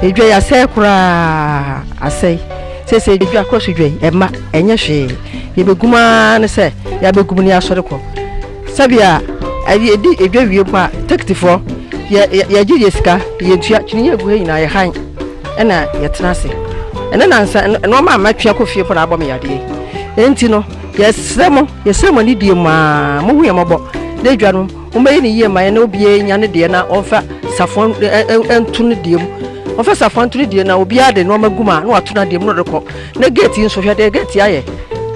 edwa yi asɛe koraa, asɛe. Seesei edwa koro so dwa yi ɛmma ɛnyɛ hwee. Yɛbɛgum ara ne sɛ yɛabɛgum ne asɔre kɔ. Sɛbea a yedi edwa wie mpo a, tekitifoɔ, yɛ, yɛ, yɛgye yɛn sika, yɛntua, kyiniiɛ a egu ha nyinaa, yɛhan, ɛna yɛtena ase. Ɛnnɛ nansa, nn nnoɔma a matwe akɔ fie mpo na abɔ me yadeɛ. Enti no, yɛsrɛ mo, yɛsrɛ mo anidie mu ara, monhu yɛn mmɔbɔ, na edwa no, mommɛyɛ no yie mma yɛn na obiara nnya ne deɛ na ɔmfa safoa ɛ, ɛ, ɛ, nto ne deɛ mu. Ɔmfa safoa nto ne deɛ mu, na obiara de nnoɔma gu mu a, na wato n'adeɛ mu na ɔde rekɔ. Na gate nso hwɛ deɛ gate ayɛ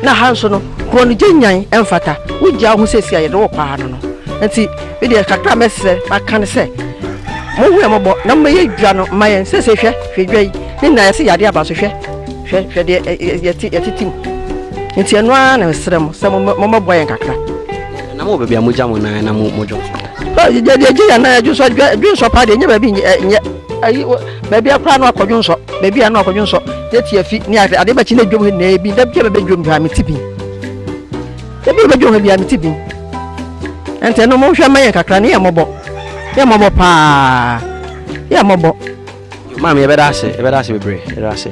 na ha nso no kuro no gye nyan ɛmfata wogya wo ho sɛsi a yɛde wo paa no no nti medeɛ kakra mɛsrɛ maka no sɛ mohu ɛmɔbɔ na mɛyɛ dwa no ma yɛn sɛsɛ hwɛ hwɛ dwa yi ne nyinaa yɛse yɛade aba so hwɛ hwɛ hwɛ deɛ yɛtetim nti ɛno ara na mesrɛ mo sɛ mommɛboa yɛn kakra na mo baabi a mogya mo nan na modwo deɛ gye yɛn nan adwo so adwensɔ paa deɛ ɛnyɛ baabi nyɛ Baabi a koraa no akɔdwo nsɔ, baabi a no akɔdwo nsɔ, ne ti afi ne ase ade bɛkye ne dwom na ebi da bi a bɛbɛ dwom bi a me ti bi. Ebi a bɛbɛ dwom bi a me ti bi. Ɛntɛ no mo hwɛ ma yɛn kakra ne yɛ mɔbɔ. Yɛ mɔbɔ paa. Yɛ mɔbɔ. Maame yɛbɛda ase, yɛbɛda ase bebree, yɛbɛda ase.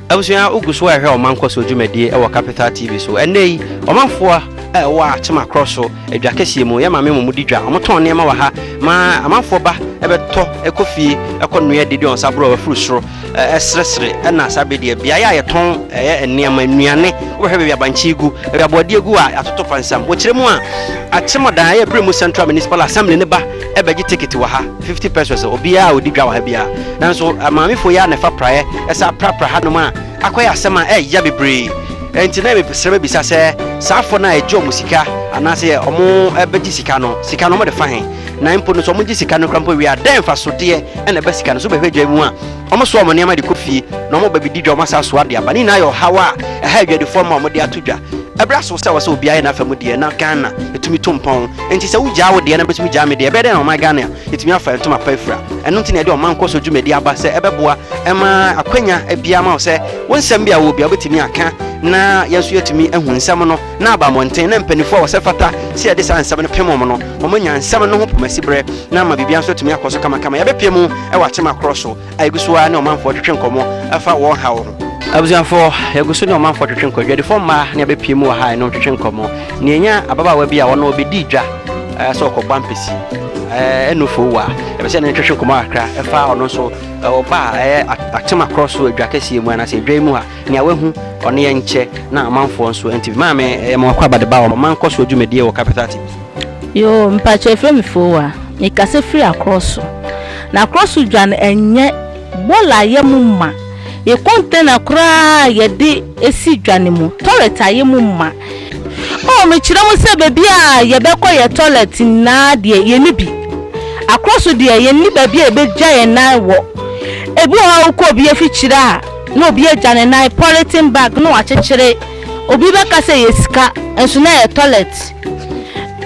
Abusua, wogu so rehwɛ ɔman nkɔsoɔ dwumadie wɔ Capital TV so. Ɛnnɛ yi, ɔmanfoɔ a ɛwɔ Akyem Akorɔ so dwa kɛseɛ mu, yɛn maame mmom di dwa. Wɔtɔn nneɛma wɔ ha ma amanfoɔ ba bɛtɔ kɔ fie kɔ noa di de wɔn nsa borɔwa firi soro sresere ɛna saa bɛ deɛ. Beaeɛ a yɛtɔn ɛyɛ nneɛma, nnuane, wobɛhwɛ baabi abankye gu, baabi aboɔdeɛ gu a atoto pansam. Wɔkyerɛ mu a, Akyem ɔdan ɛyɛ Beremu Central Municipal Assembly ne ba bɛgye ticket wɔ ha. 50 pesos a obiara a odi dwa wɔ ha biara. Nanso amaamefo yi ara na ɛfa praeɛ ɛsan prapra hanom a akɔyɛ asɛm a ɛyɛ ya bebree. Ɛnti na mesrɛ bɛbisa sɛ saa fɔ no a ɛgye wɔn sika anaasɛ wɔn bɛgye sika no, sika no wɔn de fa he? Na mpo no sɛ wɔn gye sika no koraa mpo wie a dɛn mfasodeɛ na ɛba sika no so bɛhwɛ dwa mu a? Wɔsoa wɔn nneɛma de kɔ fie, na wɔba bedi dwa, wɔsan soa de aba. Ne nyinaa yɛ ɔhaw a ɛha adwadifoɔ ma wɔde ato dwa. Ɛberɛ aso sɛ ɛwɔ sɛ obiara yɛ n'afa mu deɛ, na Ghana tumi to mpɔn. Enti sɛ wogyaa wo deɛ na mɛtumi gyaa me deɛ, ɛbɛyɛ dɛn na ɔman Ghana atumi afa ntoma pa afira? Ɛno nti na yɛde ɔman nkɔso dwumadi aba sɛ ɛbɛboa ma akwanya biara ma wo sɛ wo nsɛm bi a wowɔ biara wobɛtumi aka na yɛn nso yɛatumi ahu nsɛm no. na aba mmɔnten na mpanyinfoɔ a wɔsɛ fata sɛ yɛde saa nsɛm no pem wɔn no wɔn anya nsɛm no ho pomasiberɛ na ama biribiara nso atumi akɔ so kamakama yɛbɛpie mu wɔ akyema korɔ so a yɛgu so ara ne ɔmanfoɔ twetwe nkɔmmɔ ɛfa wɔn haw ho abusuafoɔ yɛgu so ne ɔmanfoɔ twetwe nkɔ adwadifoɔ mmaa ne yɛbɛpie mu wɔ ha ɛno twetwe nkɔmmɔ ne ɛnya ababaawa bi a ɔno ɔbɛdi dwa eh, sɛ ɔkɔbɔ ampesi eh, ɛno fo wa ɛbɛ sɛ ne twetwe nkɔmmɔ kakra ɛfa ɔno nso eh, ɔba a ɛyɛ atema korɔ so adwa kɛseɛ mu anaasɛ adwa mu ha Nea wahu, ɔno yɛ nkyɛ na amanfoɔ nso nti bi. Maame, ɛyɛ mo akɔ abade ba wɔ ɔman nkɔ soɔ dwumadie wɔ Capital TV. Yoo mpakyɛ efrɛ me fowa mekasa firi akrɔso na akrɔso dwa no ɛnyɛ bɔla ayɛ mu ma yɛ container koraa yɛde esi dwa no mu toilet ayɛ mu ma oh mekyerɛ mu sɛ baabi a yɛbɛkɔ yɛ toilet nyinaa deɛ yɛ ni bi akrɔso deɛ yɛ ni baabi a yɛbɛgya yɛ nan wɔ ebi wɔ hɔ a wokɔ obi afikyire a Na obi agya ne nan polythene bag na wakyekyere, obi bɛka sɛ ɛyɛ sika nso na ɛyɛ toilet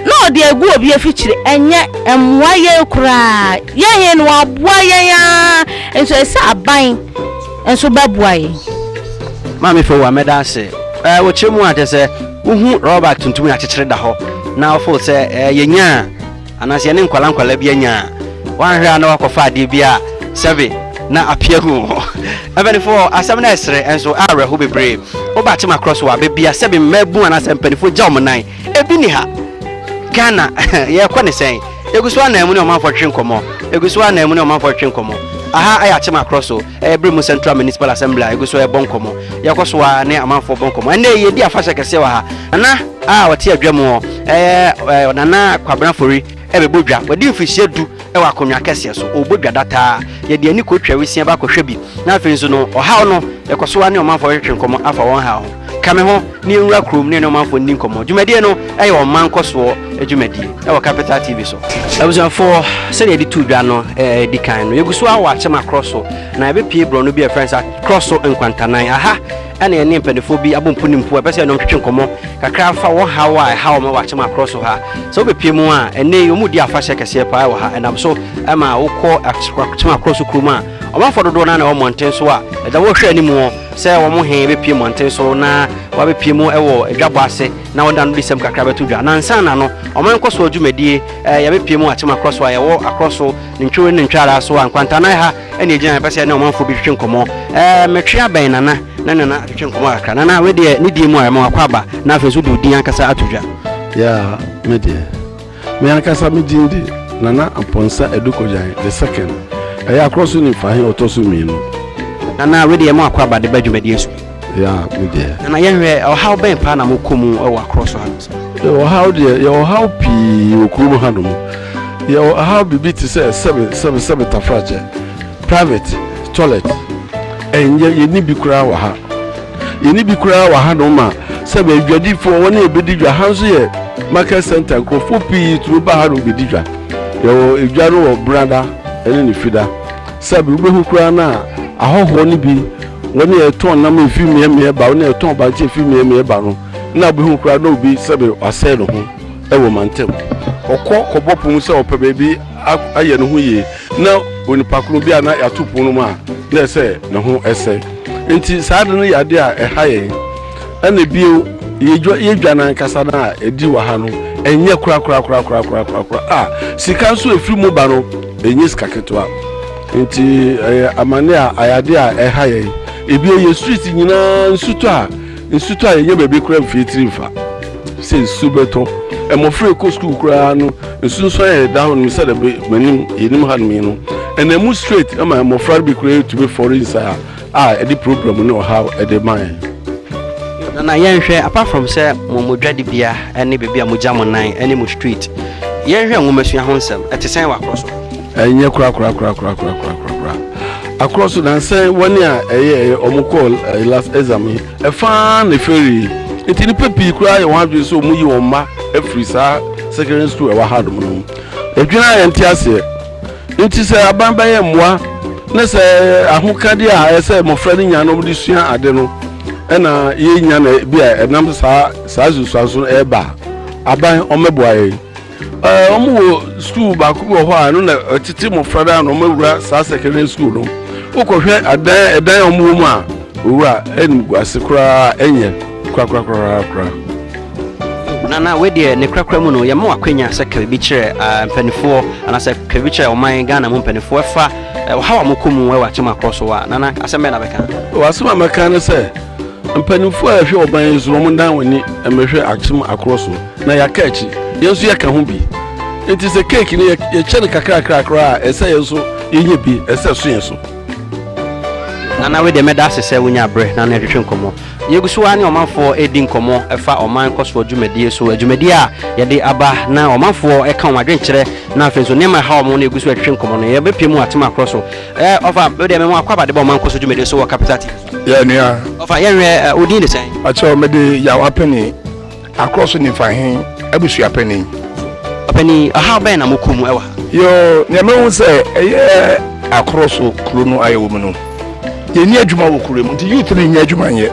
na ɔde agu obi afikyiri, ɛnyɛ ɛmmoa yɛn koraa, yɛn he no aboa yɛn aa, nso ɛsɛ aban nso bɛboa yɛn. Maame Fowua mɛda ase ɛɛ wokyerɛ mu a kyerɛ sɛ wohu rɔba tuntum yɛakyekyere da hɔ na wofeel sɛ ɛɛ yɛnyaa Anaa sɛ yɛne nkwadaa nkwadaa bi anya a, woanhwɛ a na woakɔfa adeɛ bi a sɛbe na apia agu wo ho. Mpanimfoɔ, asɛm no yɛ serɛ nso ɛyɛ awerɛho bebree. Woba Tema Cross wɔ abɛ bi a, sɛbe mmaabun anaasɛ mpanimfoɔ gya wɔn nan. Ebi nni ha. Ghana, yɛrekɔ ne sɛn? Yɛgu so ara na yɛn mu ne ɔmanfoɔ retwetwe nkɔmmɔ. Yɛgu so ara na yɛn mu ne ɔmanfoɔ retwetwe nkɔmmɔ. Aha yɛ Tema Cross o. Ɛbere mu Central Municipal Assembly a egu so ɛbɔ nkɔmɔ. Yɛkɔ so ara ne amanfoɔ bɔ nkɔmɔ. Ɛnna yi yɛdi afahyɛ kɛseɛ wɔ ha. Nana a ɔte adwa mu hɔ ɛyɛ ɛ Nana Kwabena Fori ɛbɛbɔ dwa. Wadi mfirihyia du ɛwɔ akonnwa kɛseɛ so. Ɔbɔ dwa dataa. Yɛde ani kotwa wisia ba kɔhwɛ bi. Na afei nso no ɔhaw no yɛkɔ so ara ne ɔmanfoɔ hwetwe nkɔmɔ afa wɔn haw ho. Ka me ho na yɛnwura kurom ne yɛne ɔmanfoɔ nni nkɔmmɔ. Dwumadie no yɛ ɔman nkɔsoɔ dwumadie wɔ Capital TV so. Abusuafoɔ, sɛdeɛ yɛde tuu dwa no di kan no, yɛgu so ara wɔ akyem akorɔ so, na yɛbɛpue borɔno bi a yɛfrɛ no sɛ Akorɔ So Nkwantanan. Aha na yɛne mpanimfoɔ bi abɔ mpo ne mpo a ɛbɛsɛ yɛne wɔn twetwe nkɔmmɔ kakra afa wɔn haw a ɛha wɔn wɔ akyem akorɔ so ha. Sɛ wobɛpue mu a, ɛnnɛ yi wɔredi afahyɛ kɛseɛ paa wɔ ha. Ɛnam so ma wokɔ akyem akorɔ so kurom a, ɔmanfoɔ dodoɔ no ara na ɛwɔ mmɔnten so a ɛda wɔhwɛ anim hɔ. sɛ wɔn he bepue mmɔnten so na wɔabepue mu wɔ adwabɔ ase na wɔda no disɛm kakra bɛto dwa. Na ansa na no, ɔman nkɔsoɔ dwumadie, yɛabepue mu atem akorɔ so a yɛwɔ akorɔ so ne ntworo ne ntwaraa so a nkwantanan ha ne ɛgyina yɛpɛ sɛ yɛne ɔmanfoɔ bi twetwe nkɔmmɔ. Metwe abɛn Nana ne Nana atwetwe nkɔmmɔ kakra. Nana, wei deɛ ne din mu a ɛma wakɔ aba na afei nso wode wo din ankasa ato dwa. Yeah, me deɛ. Me ankasa me din de Nana Amponsah Adu Kogyan the second, ɛyɛ Akorɔsoni Fahe ɔtɔ so mmienu. Nana, wei deɛ mo akɔ aba de ba dwumadie so bi. Yeah, me deɛ. Nana, yɛnhwɛ, ɔhaw bɛn paa na mokɔ mu wɔ Akorɔso hanom sɛ? Yɛwɔ ɔhaw deɛ, yɛwɔ ɔhaw pii wɔ kurom hanom. Yɛwɔ ɔhaw biribi te sɛ sɛbe, sɛbe, sɛbe tafrakyɛ, private toilet, ɛnyɛ, yɛnni bi koraa wɔ ha. Yɛnni bi koraa wɔ hanom ma sɛ bɛyɛ dwadifoɔ, wɔne yɛn bɛdi dwa. Ha nso yɛ market centre, nkurɔfoɔ pii tumi ba hanom bɛdi dwa. Yɛwɔ dwa no wɔ Benada ne ne Fida. Sɛbe wobɛhu koraa no a, ahɔhoɔ no bi, wɔne yɛn tɔn nam a ɛfiri mmeammea ba, wɔne yɛn tɔn bankye a ɛfiri mmeammea ba no, na wobɛhu koraa na obi sɛbe wasɛe ne ho wɔ mantam. Ɔkɔ kɔbɔ po mu sɛ ɔpɛ baabi. ayɛ ne ho yie na onipa koro bi a na yɛato pon no mu a na ɛsɛ ne ho ɛsɛ nti saa de no yɛ adeɛ a ɛha yɛn ɛna bio yɛdwa no ankasa no a ɛdi wɔ ha no ɛnyɛ korakorakorakorakorakora a sika nso ɛfiri mu ba no ɛnyɛ sika ketewa nti ɛyɛ amane a ayɛadeɛ a ɛha yɛn ebia yɛ street nyinaa nsutɔ a Nsu tɔ a yɛnyɛ baabi koraa mfiri tiri mfa sɛ nsu bɛtɔ mmɔfra a ɛkɔ sukuu koraa no nsu nso ayɛ ɛda hɔ nom sɛdeɛ bɛ manim yɛnim ha nom yi no ɛna mu straight ɛma mmɔfra no bi koraa ɛtumi fɔre nsa a ɛde problem ne ɔhaw ɛde ma yɛn. Nana yɛnhwɛ apart from sɛ mo mo dwadibea ne baabi a mogya mo nan ne mo street yɛnhwɛ nwomasua ho nsɛm ɛte sɛn wɔ akorɔ so? Ɛnyɛ korakorakorakorakorakorakorakoraa. Akorɔ so nansan wɔne a ɛyɛ ɛyɛ wɔn kɔɔ ɛyɛ last exam yi ɛfaa na eferii nti nipa pii koraa yɛ wɔn adwene sɛ wɔn yi wɔn mma afiri saa secondary school ɛwɔ ha nom no mu. Adwene a yɛn te aseɛ nti sɛ aban bɛyɛ mmoa ne sɛ ahokade a ɛsɛ mmɔfra no nya na wɔde sua ade no ɛna yɛnya na bi a ɛnam saa saa nsusuanso no ɛreba aban wɔn mɛboa yɛn. Ɛɛ, wɔn wɔ sukuu baako bi wɔ hɔ a ɛno na ɛtete mmɔfra daa na wɔn awura saa secondary school no. Wokɔhwɛ adan ɛdan a wɔn wɔ mu a, owura ɛnim gu ase koraa ɛnyɛ korakora koraa koraa. Nana wei deɛ ne korakora mu no yɛma wɔ akwanya sɛ kabi kyerɛ ah, mpanimfoɔ anaasɛ kabi kyerɛ ɔman Ghana mu mpanimfoɔ ɛfa eh, ɔhaw a mokɔ mu ɛwɔ akyɛm akorɔ so a nana asɛm bɛn na bɛka? Wɔ asɛm a mɛka ne sɛ Mpanyimfo a ɛhwɛ ɔban yi so no, wɔdan wɔn ani mmɛhwɛ akyem akoro so, na yɛaka akyi. Yɛn nso yɛka ho bi. Enti sɛ keeki no yɛkyɛ no kakrakra koraa a, ɛsɛ sɛ yɛn nso yenya bi, ɛsɛ sɛ ɛso yɛn so. Nana wei deɛ mɛda ase sɛ wonya berɛ na ne yɛtwetwe nkɔmmɔ. Yɛgu so ara ne ɔmanfoɔ redi nkɔmmɔ ɛfa ɔman nkɔsoɔ dwumadie so, adwumadie a yɛde aba na ɔmanfoɔ ɛka wɔn adwenkyerɛ na afei nso nneɛma ɛha wɔn na yɛgu so ɛtwetwe nkɔmmɔ no. Yɛbɛpie mu atem akorɔ so. Ɛɛ ɔfa, wei deɛ mɛmo akɔ aba de ba ɔman nkɔsoɔ dwumadie so wɔ Capital TV. Yɛ nua. Ɔfa yɛ nwɛ ɛ odin ne sɛn. Pakyɛw me de yaw apɛni akorɔ so nifa he abusua pɛni. Ɔpɛni ɔhaw bɛn na mo kɔ mu ɛwɔ ha. Yoo nea mahu sɛ ɛyɛ akorɔ so kuro no ayɛ wɔ mu no yɛ nni adwuma wɔ kuro mu nti youth no nnya adwuma nyɛ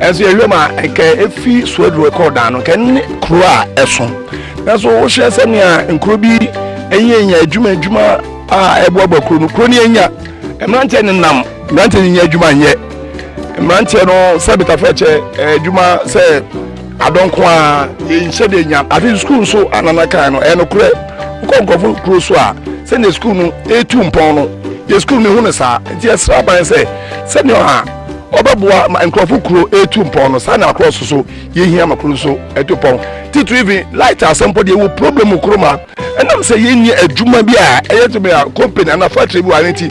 ɛnso yɛhwɛ mu a ɛkɛ efi suaduro ɛkɔ dan no kɛ ne kuro a ɛso nanso wohyɛ sɛ nea nkuro bi ɛnyɛ nya adwuma adwuma a ɛboaboa kuro no kuro no yɛnya mmeranteɛ nenam Mmeranteɛ no nnya adwuma nyɛ. Mmeranteɛ no sɛ betafoɔ kyɛ eh, adwuma sɛ adɔnko a yɛnhyɛ deɛ nya afe sukuu nso anana kan no ɛnokorɛ wokɔ nkurɔfo kuro so a sɛdeɛ sukuu no ɛtu mpɔn no yɛ sukuu no hu no saa nti ɛsrɛ aban sɛ sɛdeɛ ɔha ɔbɛboa ma nkurɔfo kuro ɛtu mpɔn no saa na akorɔ so so yɛhia ma kuro so ɛtu pɔn titiri vi light asɛm pɔ deɛ wɔ problem kuro ma ɛnam sɛ yɛnyɛ adwuma bi a ɛyɛ tumi a company anaa factory bi wɔ ano nti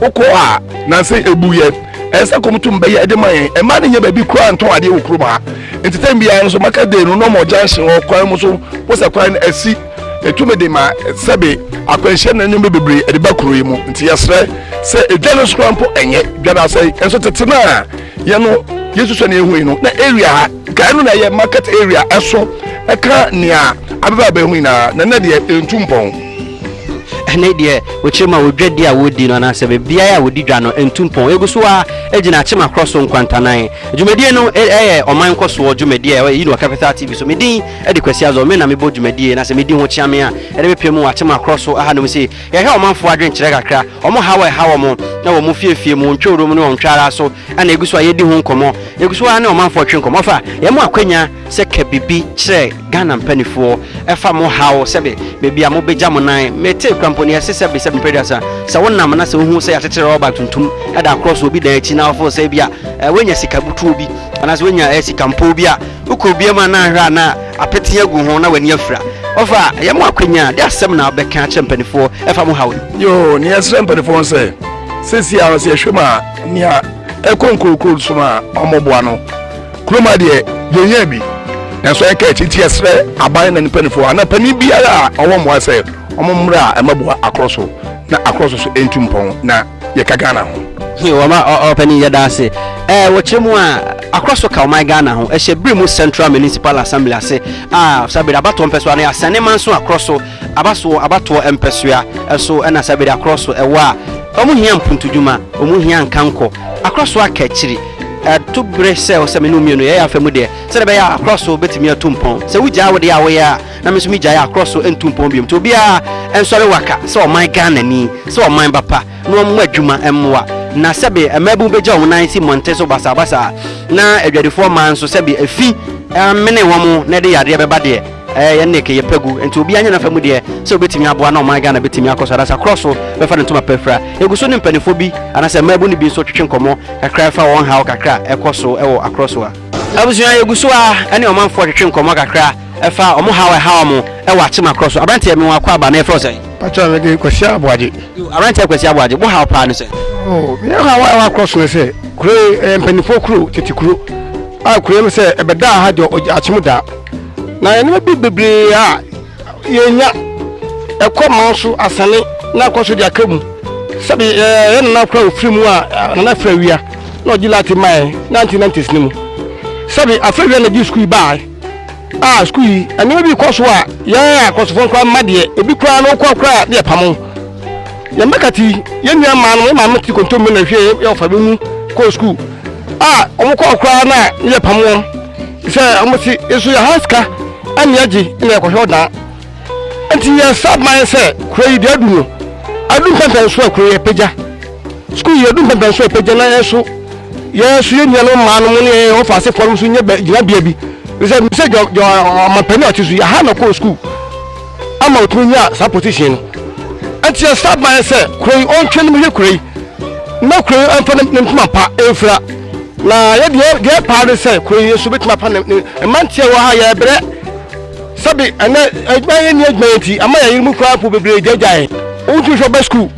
wokɔ a nansa ebu yɛn ɛsɛ kɔm tum bɛyɛ ɛde ma yɛn ɛma ne nyɛ baabi kura ntɔn adeɛ wɔ kurom ha nti tɛn biara nso maka de no nɔmɔ junction wɔ kwan mu so wosɛ kwan no asi ɛtumi de ma sɛbe akwanhyia na nneɛma bebree ɛde ba kuro yi mu nti yɛsrɛ sɛ edwa no soro mpo ɛnyɛ dwa no asɛe nso tete no a yɛ no yɛsusua ne ɛhu yi no na area ha kae no na ɛyɛ market area ɛso ɛka nea abɛbɛ abɛhu nyinaa na nɛ deɛ ɛntu mpɔn ɛne deɛ wɔkyerɛ mu a wɔdwadi a wɔdi no anaasɛ baabiara a wɔdi dwa no ntu mpɔn ɛgu so a gyina akyemakorɔ so nkwantanan dwumadie no ɛyɛ ɔman nkɔsoɔ dwumadie a ɛyɛ yi no capital tv so medin ɛde kwasi azɔ me na mebɔ dwumadie na sɛ medi ho kyea me a ɛde mepɛ mu akyemakorɔ so aha nom se yɛhwɛ ɔmanfoɔ adwenkyerɛ kakra ɔmo haw ɛha wɔ mo na wɔ mo fiefie mu ntwɛ wuro mu ne ɔntwɛ ara so Ana egu so a yɛdi ho nkɔmɔ. Yɛgu so ara ne ɔmanfoɔ twe nkɔmɔ fa yɛn mo akwanya sɛ ka bibi kyerɛ Ghana mpanifoɔ ɛfa mo haw sɛbe baabi a mo bɛgya mo nan. Me tee kura mpo ne yɛse sɛbe sɛbe mpere duasa sɛ wo nam na sɛ wo hu sɛ yɛatetere rɔba bag tuntum da across obi dan akyi na wo feel sɛ ebi a woanya sika butuo bi anaa sɛ woanya sika mpoo bi a wo kɔ obi amu a na ahwɛ a na apete agu ho na w'ani afira. Ɔfa yɛn mo akwanya a de asɛm na bɛka akyerɛ mpanifoɔ ɛfa mo haw yi. Yoo ne yɛsrɛ mpanifoɔ sɛ sɛsi a sɛ yɛhwɛ mu a. Nea ɛkɔ nkurokuro so no a wɔboa no kurom ha deɛ yɛnyɛ bi nanso ɛka akyi nti yɛsrɛ aban na mpanimfoɔ anaa panin biara a ɔwɔ mmoa sɛ wɔmmra a ɛmɛboa akorɔ so na akorɔ so so ɛntu mpɔn na yɛka Ghana ho. Wɔma ɔpanin yɛda ase. Ɛɛ wɔkyerɛ mu a akorɔ so ka ɔman Ghana ho ɛhyɛ bere mu Central Municipal Assembly ase a saa bere abatoɔ mpɛsoa no yɛasɛne manso akorɔ so aba so wɔ abatoɔ mpɛsoa so na saa bere akorɔ so wɔ a, wɔn hia mpuntudwuma, wɔn hia nkankɔ, akorɔ so akakyiri. Ɛto bere sɛ ɔsɛ me ne wo mmienu yɛyɛ afa mu deɛ, sɛdeɛ ɛbɛyɛ a akorɔ so bɛtumi atu mpɔn. Sɛ wo gyaa wo deɛ a woyɛ a, na me nso me gyae a akorɔ so ntu mpɔn biom. Nti obiara nsɔre waka sɛ ɔman Ghanani, sɛ ɔman ba pa, na wɔn mmɔ adwuma mmoa. Na sɛbe mmabun bɛgya wɔn nan si mmɔnten so basabasa a, na adwadifoɔ mmaa nso sɛbe afi amene wɔn na ɛde yadeɛ bɛba deɛ, Ɛɛ yɛn Nick yɛ pɛ gu nti obiaa nyɛ nafa mu deɛ sɛ obetumi aboa na ɔman Ghana betumi akɔ so anaasɛ akorɔ so bɛfa ne ntoma pa afira egu so ne mpaninfoɔ bi anaasɛ mmaabun no bi nso twetwe nkɔmɔ kakra ɛfa wɔn haw kakra a ɛkɔ so wɔ akorɔ so a Abusua yɛgu so ara ɛne ɔmanfoɔ twetwe nkɔmɔ kakra ɛfa wɔn haw a ɛha wɔn ɛwɔ akyem akorɔ so Abranteɛ me wɔn akwaaba na yɛfrɛ wo sɛn? Pakyɛw me de Kwasi Aboagye. Yoo abranteɛ Kwasi Aboagye wo haw paa ne sɛn? Oo me haw a ɛwɔ akorɔ so ne sɛ kuro yi ɛyɛ mpaninfoɔ kuro tete kuro a kuro yi sɛ ɛbɛdaa ha deɛ akyem daa. Na nneɛma bi bebree a yɛnya ɛkɔ man so asane na akɔ so de aka mu sɛbi eh, yɛ nana kora ofiri mu a eh, nana fira wia na ɔgye lati mae na nti na ntesi ne mu sɛbi afra wia na gye sukuu baae a sukuu yi nneɛma bi kɔ so a yɛn akɔsofo nkora mma deɛ ebi koraa na okɔ koraa deɛ pamo yɛn mmɛka ti yɛn nua maa no yɛn maame ti kontomire na hwɛ yɛ ɔfa bi mu kɔ sukuu a wɔn kɔ koraa na yɛ pamo wɔn. sɛ ɔmo se nso yɛ ha sika ɛne agye na yɛkɔhwɛ ɔdaa nti yɛ sab man sɛ kuro yi deɛ adu no adu mpɛmpɛn so a kuro yɛ pagya sukuu yɛ adu mpɛmpɛn so a pagya na yɛ so yɛ so yɛ nuanom mmaa no mo ne yɛ ɔfa asefoɔ no so nyɛ gyinabea bi sɛ sɛ gyɔ gyɔ ɔmampanin a ɔte so yɛ ha na kɔɔ sukuu ama otumi nyaa saa position no nti yɛ star ban sɛ kuro yi ɔntwe ne bɛhwɛ kuro yi na kuro yi ɛnfa ne ntoma pa ɛnfira na yɛ deɛ deɛ paa ne sɛ kuro yi nso bɛtumi apa ne ne mmeranteɛ wɔ ha yɛ brɛ sɛbi ɛnɛ adwuma yɛ ni adwuma yɛ ti ama yɛ yiri mu koraa po bebree gyagya yɛ wotumi hwɛ ɔbɛ sukuu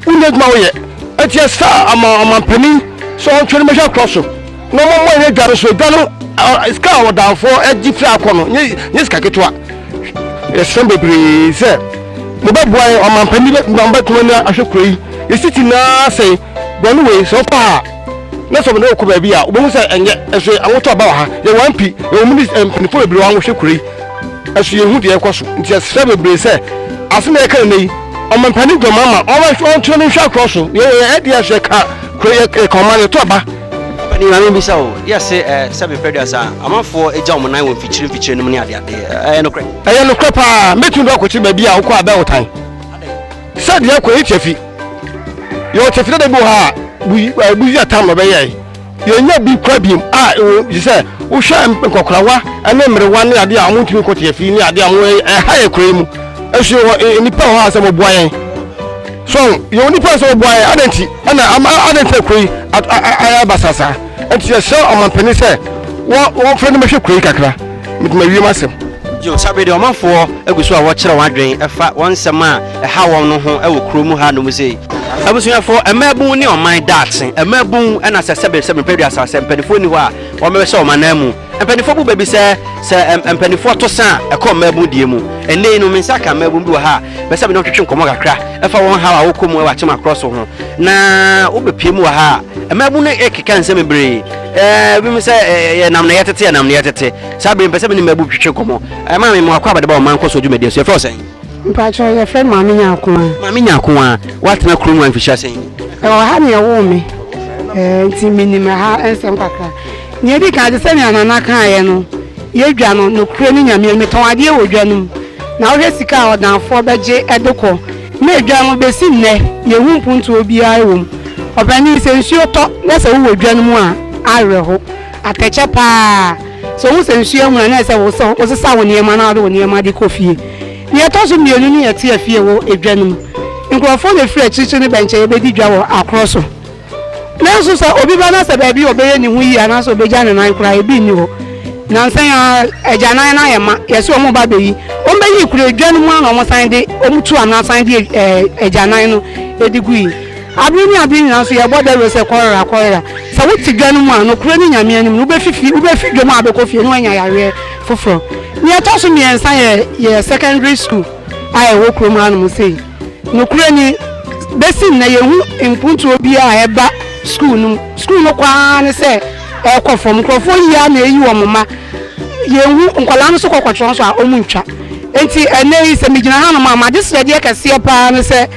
wonni adwuma woyɛ ɛti yɛ star ama ɔmampanin sɛ ɔntwe ne bɛhwɛ korɔ so. Na ɔmo ɔmo ɛnyɛ dwa no so edwa no sika a ɔdanfoɔ ɛgye firi akɔ no nye nye sika ketewa yɛsrɛ bebree sɛ mo bɛ boa yɛn ɔmanpanin bɛ ma mo bɛ tuma ni ahwɛ kuro yi yɛsi ti naa sɛn bɔne wei sɛ ɔkɔ ha na sɛ ɔmo ne ɔkɔ baabi a ɔbɛhu sɛ ɛnyɛ ɛso yɛ ahotɔ aba wɔ ha yɛ wɔn mpi yɛ wɔn mini mpanimfoɔ bebree wɔn ahwɛ kuro yi ɛso yɛn hu deɛ ɛkɔ so nti yɛsrɛ bebree sɛ asem yɛ kan ne yi ɔmanpanin dɔm ama ɔmo ɔntwerɛ ne nhwɛ akorɔ so yɛ yɛ ɛdeɛ ɛso yɛ ka kuro yɛ ka ɔman yɛ tɔ aba. Ɔpanin, Maame mbisa wo, yɛ se eh, sɛ me pɛ duasa a, amanfoɔ agya wɔn nan wɔ mfikyire mfikyire nom ne ade ade, eh, ɛyɛ nokorɛ? Ɛyɛ nokorɛ paa, mɛtumi de akɔkyere baabi a wokɔ Abɛotan, sɛ deɛ kɔ yɛ kyafi, yɛwɔ kyafi dada bi wɔ ha a, buyi, eh, buyi atam na ɔbɛyɛe, yɛnya bi kora biem a, ɛwɔ gye sɛ wohwɛ nkɔkorawa ne mmerewa ne adeɛ a wɔn ntumi nkɔ kyafi ne adeɛ a wɔn ɛha yɛ kora yi mu, ɛso yɛwɔ eh, nnipa wɔ hɔ a sɛ wɔboa yɛn. So yɛ onipa sɛ ɔboa yɛ adɛn nti ɛna ama adɛn nti kuro yi ayɛ basasa nti yɛhyɛ ɔmampanin sɛ wɔmfrɛ no mɛhwɛ kuro yi kakra mede mawie m'asɛm. Yo, sabe de ɔmanfoɔ agu so a wɔkyerɛ wɔn adwene ɛfa wɔn nsɛm a ɛha wɔn no ho ɛwɔ kuro mu ha nom sei. Abusuafo, mmaabun ne ɔman daakye. Mmaabun na sɛ sɛbe sɛ mepɛ duasa sɛ mpanifoɔ nni hɔ a wɔn bɛhyɛ wɔn ananmu. Mpaninfoɔ bu bɛ bi sɛ, sɛ mpaninfoɔ to sa a, ɛkɔ mmaabun deɛ mu. Ɛnnɛ yi no, me nsa aka mmaabun bi wɔ ha a, mɛpɛ sɛ me ne wɔn twetwe nkɔmmɔ kakra ɛfa wɔn haw a wɔkɔ mu ɛwɔ atema korɔ so ho. Na wobɛ pue mu wɔ ha a, mmaabun no ɛkeka nsɛm bebree. Ɛɛ, ebi mo sɛ, ɛɛ, yɛ nam na yɛ tete, yɛ nam na yɛ tete. Saa bere yi, mepɛ sɛ me ne mmaabun twetwe nkɔmmɔ. Ɛɛ, maame, mo akɔ abɛde ba wɔn mma nkɔ so dwumadie so. Yɛfrɛ wo sɛn? Mpakyɛ, yɛfrɛ me maame Nyakoa. Maame Nyakoa, woatena kurom ha mfirihyia sɛn? Ɛwɔ ha na yɛwoo me. Ɛɛ, nti menim ɛha nsɛm kakra. Nea edi kan, te sɛ nea Nana kaeɛ no, yɛ dwa no, nokorɛ ne Nyame anim. Metɔn adeɛ wɔ dwa no mu, na wohwɛ sika a ɔdanfoɔ bɛgye de kɔ. Na dwa no, bɛsi nnɛ, yɛnhu mpontoɔ biara wɔ mu. Ɔpanin, sɛ nsuo tɔ na sɛ wowɔ dwa no mu a, awerɛho. Atɛkyɛ pa ara. Sɛ wohu sɛ nsuo ahunu a, na ɛsɛ sɛ wosesa wo nneɛma na wode wo nneɛma de kɔ fie. Nea ɛtɔ so mmienu ne yɛte afie wɔ dwa no mu. Nkurɔfoɔ na ɛfiri akyirikyiri no bɛnkyɛ yɛbɛdi dwa wɔ akorɔ so. Nanso sɛ obi ba na sɛ baabi a ɔbɛyɛ ne ho yie anaasɛ ɔbɛgya ne nan koraa ebi nni hɔ. Nansa yi ara agyanan no ayɛ ma, yɛse wɔn ba bɛyi. Wɔn bɛyi kura dwa no mu ara na wɔn san de wɔn tu anaa san de ɛɛ agyanan no de gu yi. Abere ne abere nyinaa nso yɛbɔ dawuro sɛ kɔlera kɔlera. Sɛ wote dwa no mu a nokorɛ ne Nyame anim no wobɛfifi wobɛfi dwam a abɛkɔ fie na woanya yareɛ foforɔ. Nea ɛtɔ so mmiɛnsa yɛ yɛ secondary school a ɛwɔ kurom hanom sei. Nokorɛ ni, besi nnɛ yɛnhu mpuntuo biara a ɛba sukuu no mu. Sukuu no kɔ ara ne sɛ ɛrekɔ fam. Nkorɔfoɔ yi ara na ɛreyi wɔn mma. Yɛnhu, nkwadaa no nso kɔ kɔtwerɛ nso a, wɔntwa. Enti ɛnnɛ yi sɛ megyina hanom a, m'adesrɛdeɛ kɛseɛ pa ara ne sɛ,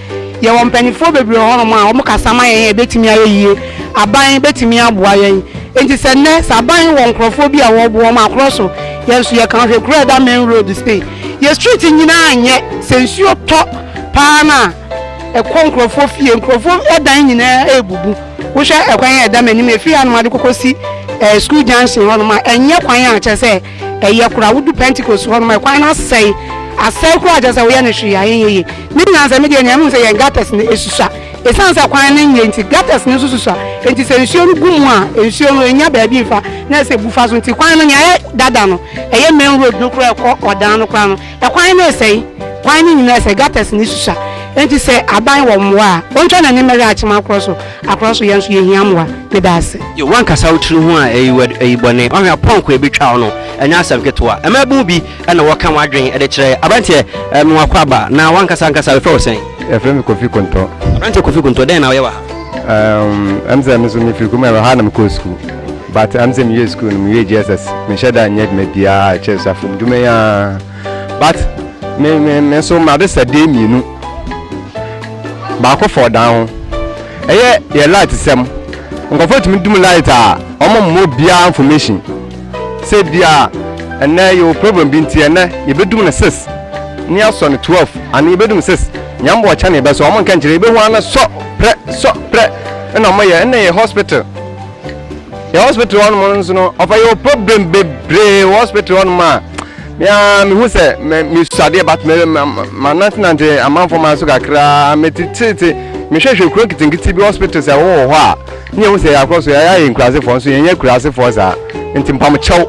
yɛwɔ mpaninfoɔ bebree wɔ hɔnom a wɔkasa ma yɛn a ɛbɛtumi ayɛ yie. Aban bɛtumi aboa yɛn. Enti sɛ nnɛ, sɛ aban wɔ nkorɔfoɔ bi a wɔreboa wɔn a, korɔ so. Yɛn nso yɛka, hwɛ kuro a ɛda main road sei. Yɛ street nyinaa anyɛ sɛ nsuo tɔ paa no a ɛkɔ nkurɔfoɔ fie nkurɔfoɔ dan nyinaa ɛrebubu wohwɛ ɛkwan a ɛda m'anim ɛfiri hanom ade kɔkɔ si ɛɛ school junction hɔnom a ɛnyɛ kwan a kyerɛ sɛ ɛyɛ koraa wodu Pentecost hɔnom a ɛkwan no asɛe asɛe koraa kyerɛ sɛ woyɛ no hwee a ɛnyɛ yie ne nyinaa sɛ medeɛ nea mehu sɛ yɛn gutters no ɛsusua ɛsiane sɛ kwan no nyɛ nti gutters no nso susua nti sɛ nsuo no gu mu a nsuo no ɛnya baabi mfa na ɛsɛ bufa so nti kwan no nea ɛyɛ dada no Ɛyɛ main road no koraa a ɛkɔ ɔdan no koraa no, ɛkwan no ɛsɛe, kwan no nyinaa ɛsɛe, gutters no susua. Enti sɛ aban wɔ mmoa a, ɔntwa n'ani mmɛhwɛ akyem akorɔ so, akorɔ so, yɛn nso yɛhia mmoa. Meda ase. Yo, woankasa wo tiri ho a ɛyi wo adi, ɛyi bɔne. Woahwɛ apɔnkɔ a ɛbɛtwa wo no, ɛnyɛ asɛm ketewa. Mmaabun bi na wɔka wɔn adwene de kyerɛ aberanteɛ, mewɔ akwaaba, na woankasa ankasa wɔfrɛ wo sɛn? Yɛfrɛ me Kofi Konto. Aberanteɛ Kofi Konto, dɛn na woyɛ wɔ ha? Ɛm sɛ me nso mefiri kurom, ɛwɔ ha na mekɔɔ sukuu. But am sɛ mewie school no mewie JSS menhyɛ da nyɛ dwuma biara a ɛkyɛ suafo mu dwuma yi ara but me me me nso made sɛdeɛ mmienu baako fɔ dan ho ɛyɛ yɛ light sɛm nkurɔfoɔ tumi dum light a wɔn mmɔ biara information sɛ bi a ɛnɛ yɛwɔ problem bi nti ɛnɛ yɛbɛdum no six ne asɔ no twelve ane yɛbɛdum six nyambo ɔkyɛ ne yɛbɛsɔ wɔn nka nkyerɛ yɛbɛhu ano sɔ prɛ sɔ prɛ ɛna wɔn yɛ ɛnna yɛ hospital. yɛ hospital hɔ nom nso no ɔfa yɛ problem bebree wɔ hospital hɔ nom a mea mehu sɛ mesuadeɛ but manantenante amanfoɔ ma so kakraa metetete mehwɛhwɛ kuro nketenkete bi hospital sɛ wowɔ hɔ a ne yɛhu sɛ yɛakɔ so yɛayɛ ayɛ nkurasefoɔ nso yɛnyɛ kurasefoɔ saa nti mpamokyɛw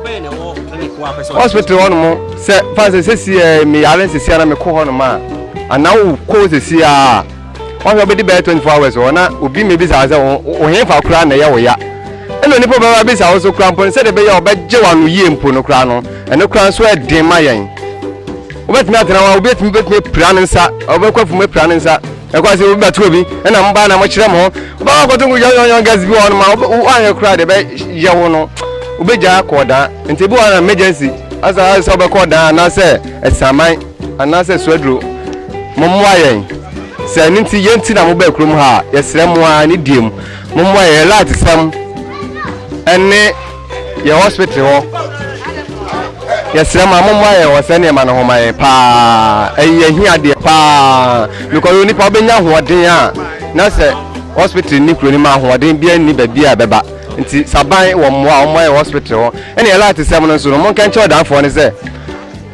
hospital hɔ nom sɛ fa sɛ sɛsiɛ meyare sɛsiɛ na mekɔ hɔ nom a anaa wokɔ sɛsiɛ a wɔn sɛ ɔbɛdi bɛyɛ twenty four hours wɔ na obi mi bisa wɔn sɛ wɔn fa koraa na ɛyɛ wɔ ya ɛna onipa bɛba bisa wɔn so koraa mpo no sɛdeɛ ɛbɛyɛ a ɔbɛgye wɔn ano yie mpo no koraa no ɛno koraa nso ɛden ma yɛn wobɛtumi atena hɔ a obi atumi bɛtumi apira ne nsa ɔbɛkɔ afum apira ne nsa ɛkɔ ase obi bɛto obi ɛna mo ba na mo kyerɛ mo ho ɔbɛkɔ akɔto nko yɔnyɔnyɔ gas bi wɔ hɔ no ma wɔanyɛ koraa deɛ ɛbɛyɛ wo no wobɛgya kɔɔ daa nti bi wɔ hɔ na emergency asa sɛ wobɛkɔ daa anaasɛ ɛsaman Anaasɛ Suaduro, mommoa yɛn. Sɛ ɛno nti, yɛn nti na mobaa kurom ha a, yɛsrɛ mo ara, ne deɛ mu, mommoa yɛn. Yɛn light sɛm ne yɛn hospital hɔ. Yɛsrɛ mo a, mommoa yɛn wɔ saa nneɛma no ho ma yɛn paa. Ɛyɛ yɛn ahiadeɛ paa. Because yɛn nipa wobɛnya ahoɔden a, na sɛ hospital nni kuro no mu a, ahoɔden biara nni baabi a ɛbɛba. Nti, sɛ aban wɔ mmoa a, wɔmmoa yɛn wɔ hospital hɔ. Ɛna yɛn light sɛm no nso no, monkɛnkyɛ ɔdanfoɔ no sɛ,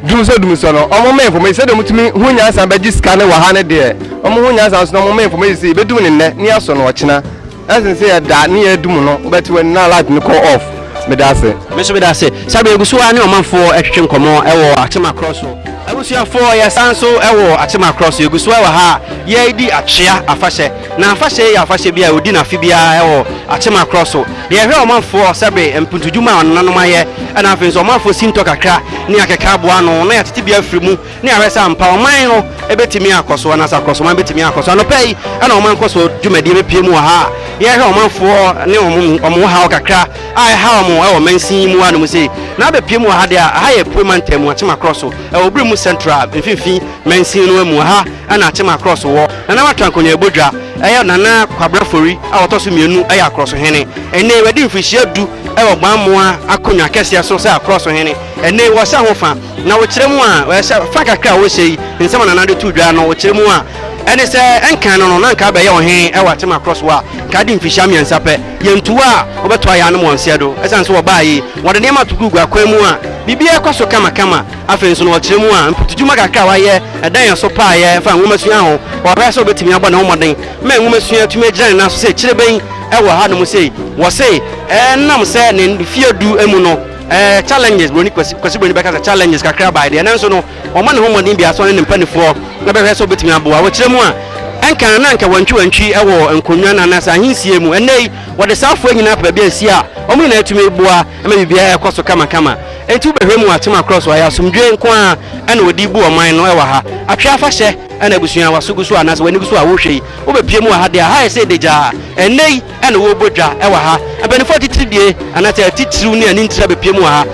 Dum sɛ dum sɛ no ɔmo ma information sɛdeɛ ɔmo tumi ho nyansa bɛgye sika ne wɔ ha ne deɛ ɔmo ho nyansa nso na ɔmo ma information sɛ yɛbɛdum ne nnɛ ne yɛasɔ no ɔkyena ɛnsen sɛ yɛda ne yɛadum no wobɛte w'ani na light no kɔ off meda ase. Me nso meda ase. Sabre yɛgu so ara ne ɔmanfoɔ retwetwe nkɔmmɔ wɔ Atema Korɔ so. Abusuafoɔ yɛsan so wɔ Atema Korɔ so, yɛgu so wɔ ha a yɛredi Atwea afahyɛ. Na afahyɛ yi yɛ afahyɛ bi a wɔdi no afe biara wɔ Akyema Krɔ so. Deɛ ɛhwɛ ɔmanfoɔ ɔsɛbre mpuntudwuma a wɔn nananom ayɛ, ɛna afei nso ɔmanfoɔ sintɔ kakra ne akeka aboa ano na yɛatete bi afiri mu na yɛahwɛ sɛ ampa ɔman no bɛtumi akɔ so anaasɛ akorɔsoman bɛtumi akɔ so. Anɔpa yi na wɔn nkɔsoɔ dwumadie bɛpue mu wɔ ha a yɛrehwɛ ɔmanfoɔ ne wɔn wɔn haw kakra a ɛha wɔn wɔ mansin yi mu hanom sei. Na abɛpue mu wɔ ha deɛ a, ɛha yɛ Apue Mantam mu, Akyema Krɔ so, ɛwɔ Obremu Central mfimfini mansin no mu. Ɛha. ɛna Akyem Akrɔso wɔ. Nana Watran Konyaabodwa yɛ Nana Kwabena Fori a ɔtɔ so mmienu yɛ Akrɔsohene. Ɛnnɛ yi wadi mfirihyia du wɔ Gbammoa akonnwa kɛseɛ so sɛ Akrɔsohene. Ɛnnɛ yi wɔhyɛ ho fa na wokyerɛ mu a wɔhyɛ fa kakra a wɔhyɛ yi nsɛm a Nana de too dwa no wokyerɛ mu a ɛne sɛ ɛnkan no no na nka abɛyɛ ɔhene wɔ Akyem Akrɔso a nka adi mfirihyia mmiɛnsa pɛ. Yɛntu a wɔbɛtoa yɛn anom wɔn nseɛ do ɛsiane sɛ wɔbaeɛ yi wɔde nneɛma to gugu akwan mu a biribiara kɔ so kamakama. Afei nso na ɔkyerɛ mu a mpotudwuma kakra a wayɛ da yɛn so paa yɛ fa nwomasua ho. Ɔpɛ sɛ obetumi abɔ ne ho mmɔden ma nwomasua atumi agyina ne nan so sɛ kyirebenyi wɔ hanom sei. Wɔse ɛnam sɛ ne mfeɛ du mu no, challenges, Buroni Kwasi, Kwasi Buroni bɛka sɛ challenges kakra bae deɛ, nanso no ɔma ne ho mmɔden biara sɛ ɔne ne mpanifoɔ bɛhwɛ sɛ obetumi aboa. Ɔkyerɛ mu a ɛnka na anka wantwiwantwi wɔ nkonnwa no anaasɛ ahensie mu, ɛnnɛ yi wɔde saa afoa nyinaa aba baabi a nsi a wɔn nyinaa tumi boa ma biribiara kɔ so kamakama. Enti wobɛhwɛ mu atem akorɔ so ayɛ asomdwoe nko ara na wɔde rebu ɔman no wɔ ha? Atwe afahyɛ na abusua a w'aso gu so anaasɛ w'ani gu so a worehwɛ yi, wobɛpue mu wɔ ha deɛ a? Ha ayɛ sɛ adagyaa. Ɛnnɛ yi na wɔrebɔ dwa wɔ ha. Mpanimfoɔ atitiridie anaasɛ atitiriw ne anintire abɛpue mu wɔ ha.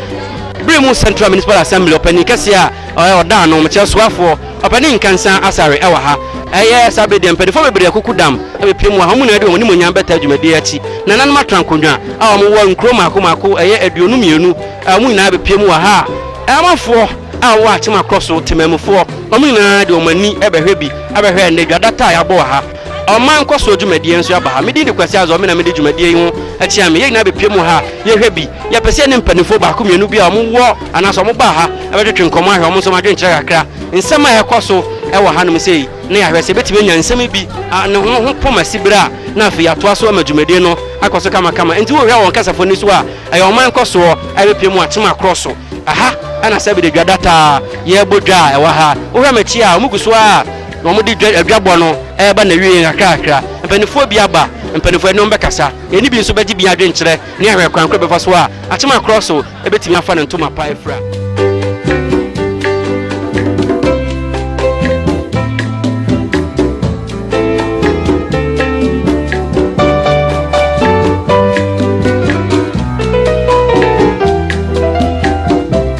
Bere mu Central Municipal Assembly ɔpanin kɛseɛ a ɔyɛ ɔdaano, mekyerɛ soafoɔ, Papa ne Nkansa asare wɔ ha. Ɛyɛ saa bere deɛ, mpanyinfoɔ bebree akuku dam abɛpiem wɔ ha. Wɔn nyinaa de wɔn animuonyam bɛtaa dwumadie yi akyi. Nananom atra nkonnwa a wɔwɔ nkuro mmaako mmaako, ɛyɛ aduonu mmienu, a wɔn nyinaa abɛpiem wɔ ha. Amanfoɔ a wɔwɔ Akyem Akorɔ so, temanmufoɔ, wɔn nyinaa de wɔn ani bɛhwɛ bi abɛhwɛ ɛnnɛ dwa data a yɛabɔ wɔ ha. Ɔman nkɔsoɔ dwumadie nso aba ha. Me din de Kwasi Azor, me na mede dwumadie yi ho kyea me. Yɛn nyinaa bɛpue mu wɔ ha a, yɛhwɛ bi. Yɛpɛ sɛ yɛne mpanimfoɔ baako mmienu bi a wɔwɔ anaasɛ wɔbaa ha bɛtwetwe nkɔmmɔ ahwɛ wɔn nso wɔn adwenkyerɛ kakra nsɛm a ɛrekɔ so wɔ hanom sei na yɛahwɛ sɛ yɛbɛtumi anya nsɛm bi a ne ho ho pom asi berɛ a na afei yɛatoa so ama dwumadie no akɔ so kamakama. Enti wohwɛ wɔn kasafo no so a, ɛyɛ ɔman nkɔsoɔ a ɛbɛpue mu atem akorɔ so. Ɛha na Sɛbede Dwa da taa yɛbɔ dwa a ɛwɔ ha. Wohwɛ m'akyi a, wɔgu so ara a. Na wɔde dwa adwabɔ no reba n'awiei nkakrakra. Mpaninfoɔ bi aba, mpaninfoɔ ɛne wɔn bɛkasa. Ɛne bi nso bɛgye bi adwenkyerɛ ne ahwɛ kwan koro ɛbɛfa so a akyema korɔ so ɛbɛtumi afa ne ntoma pa afira.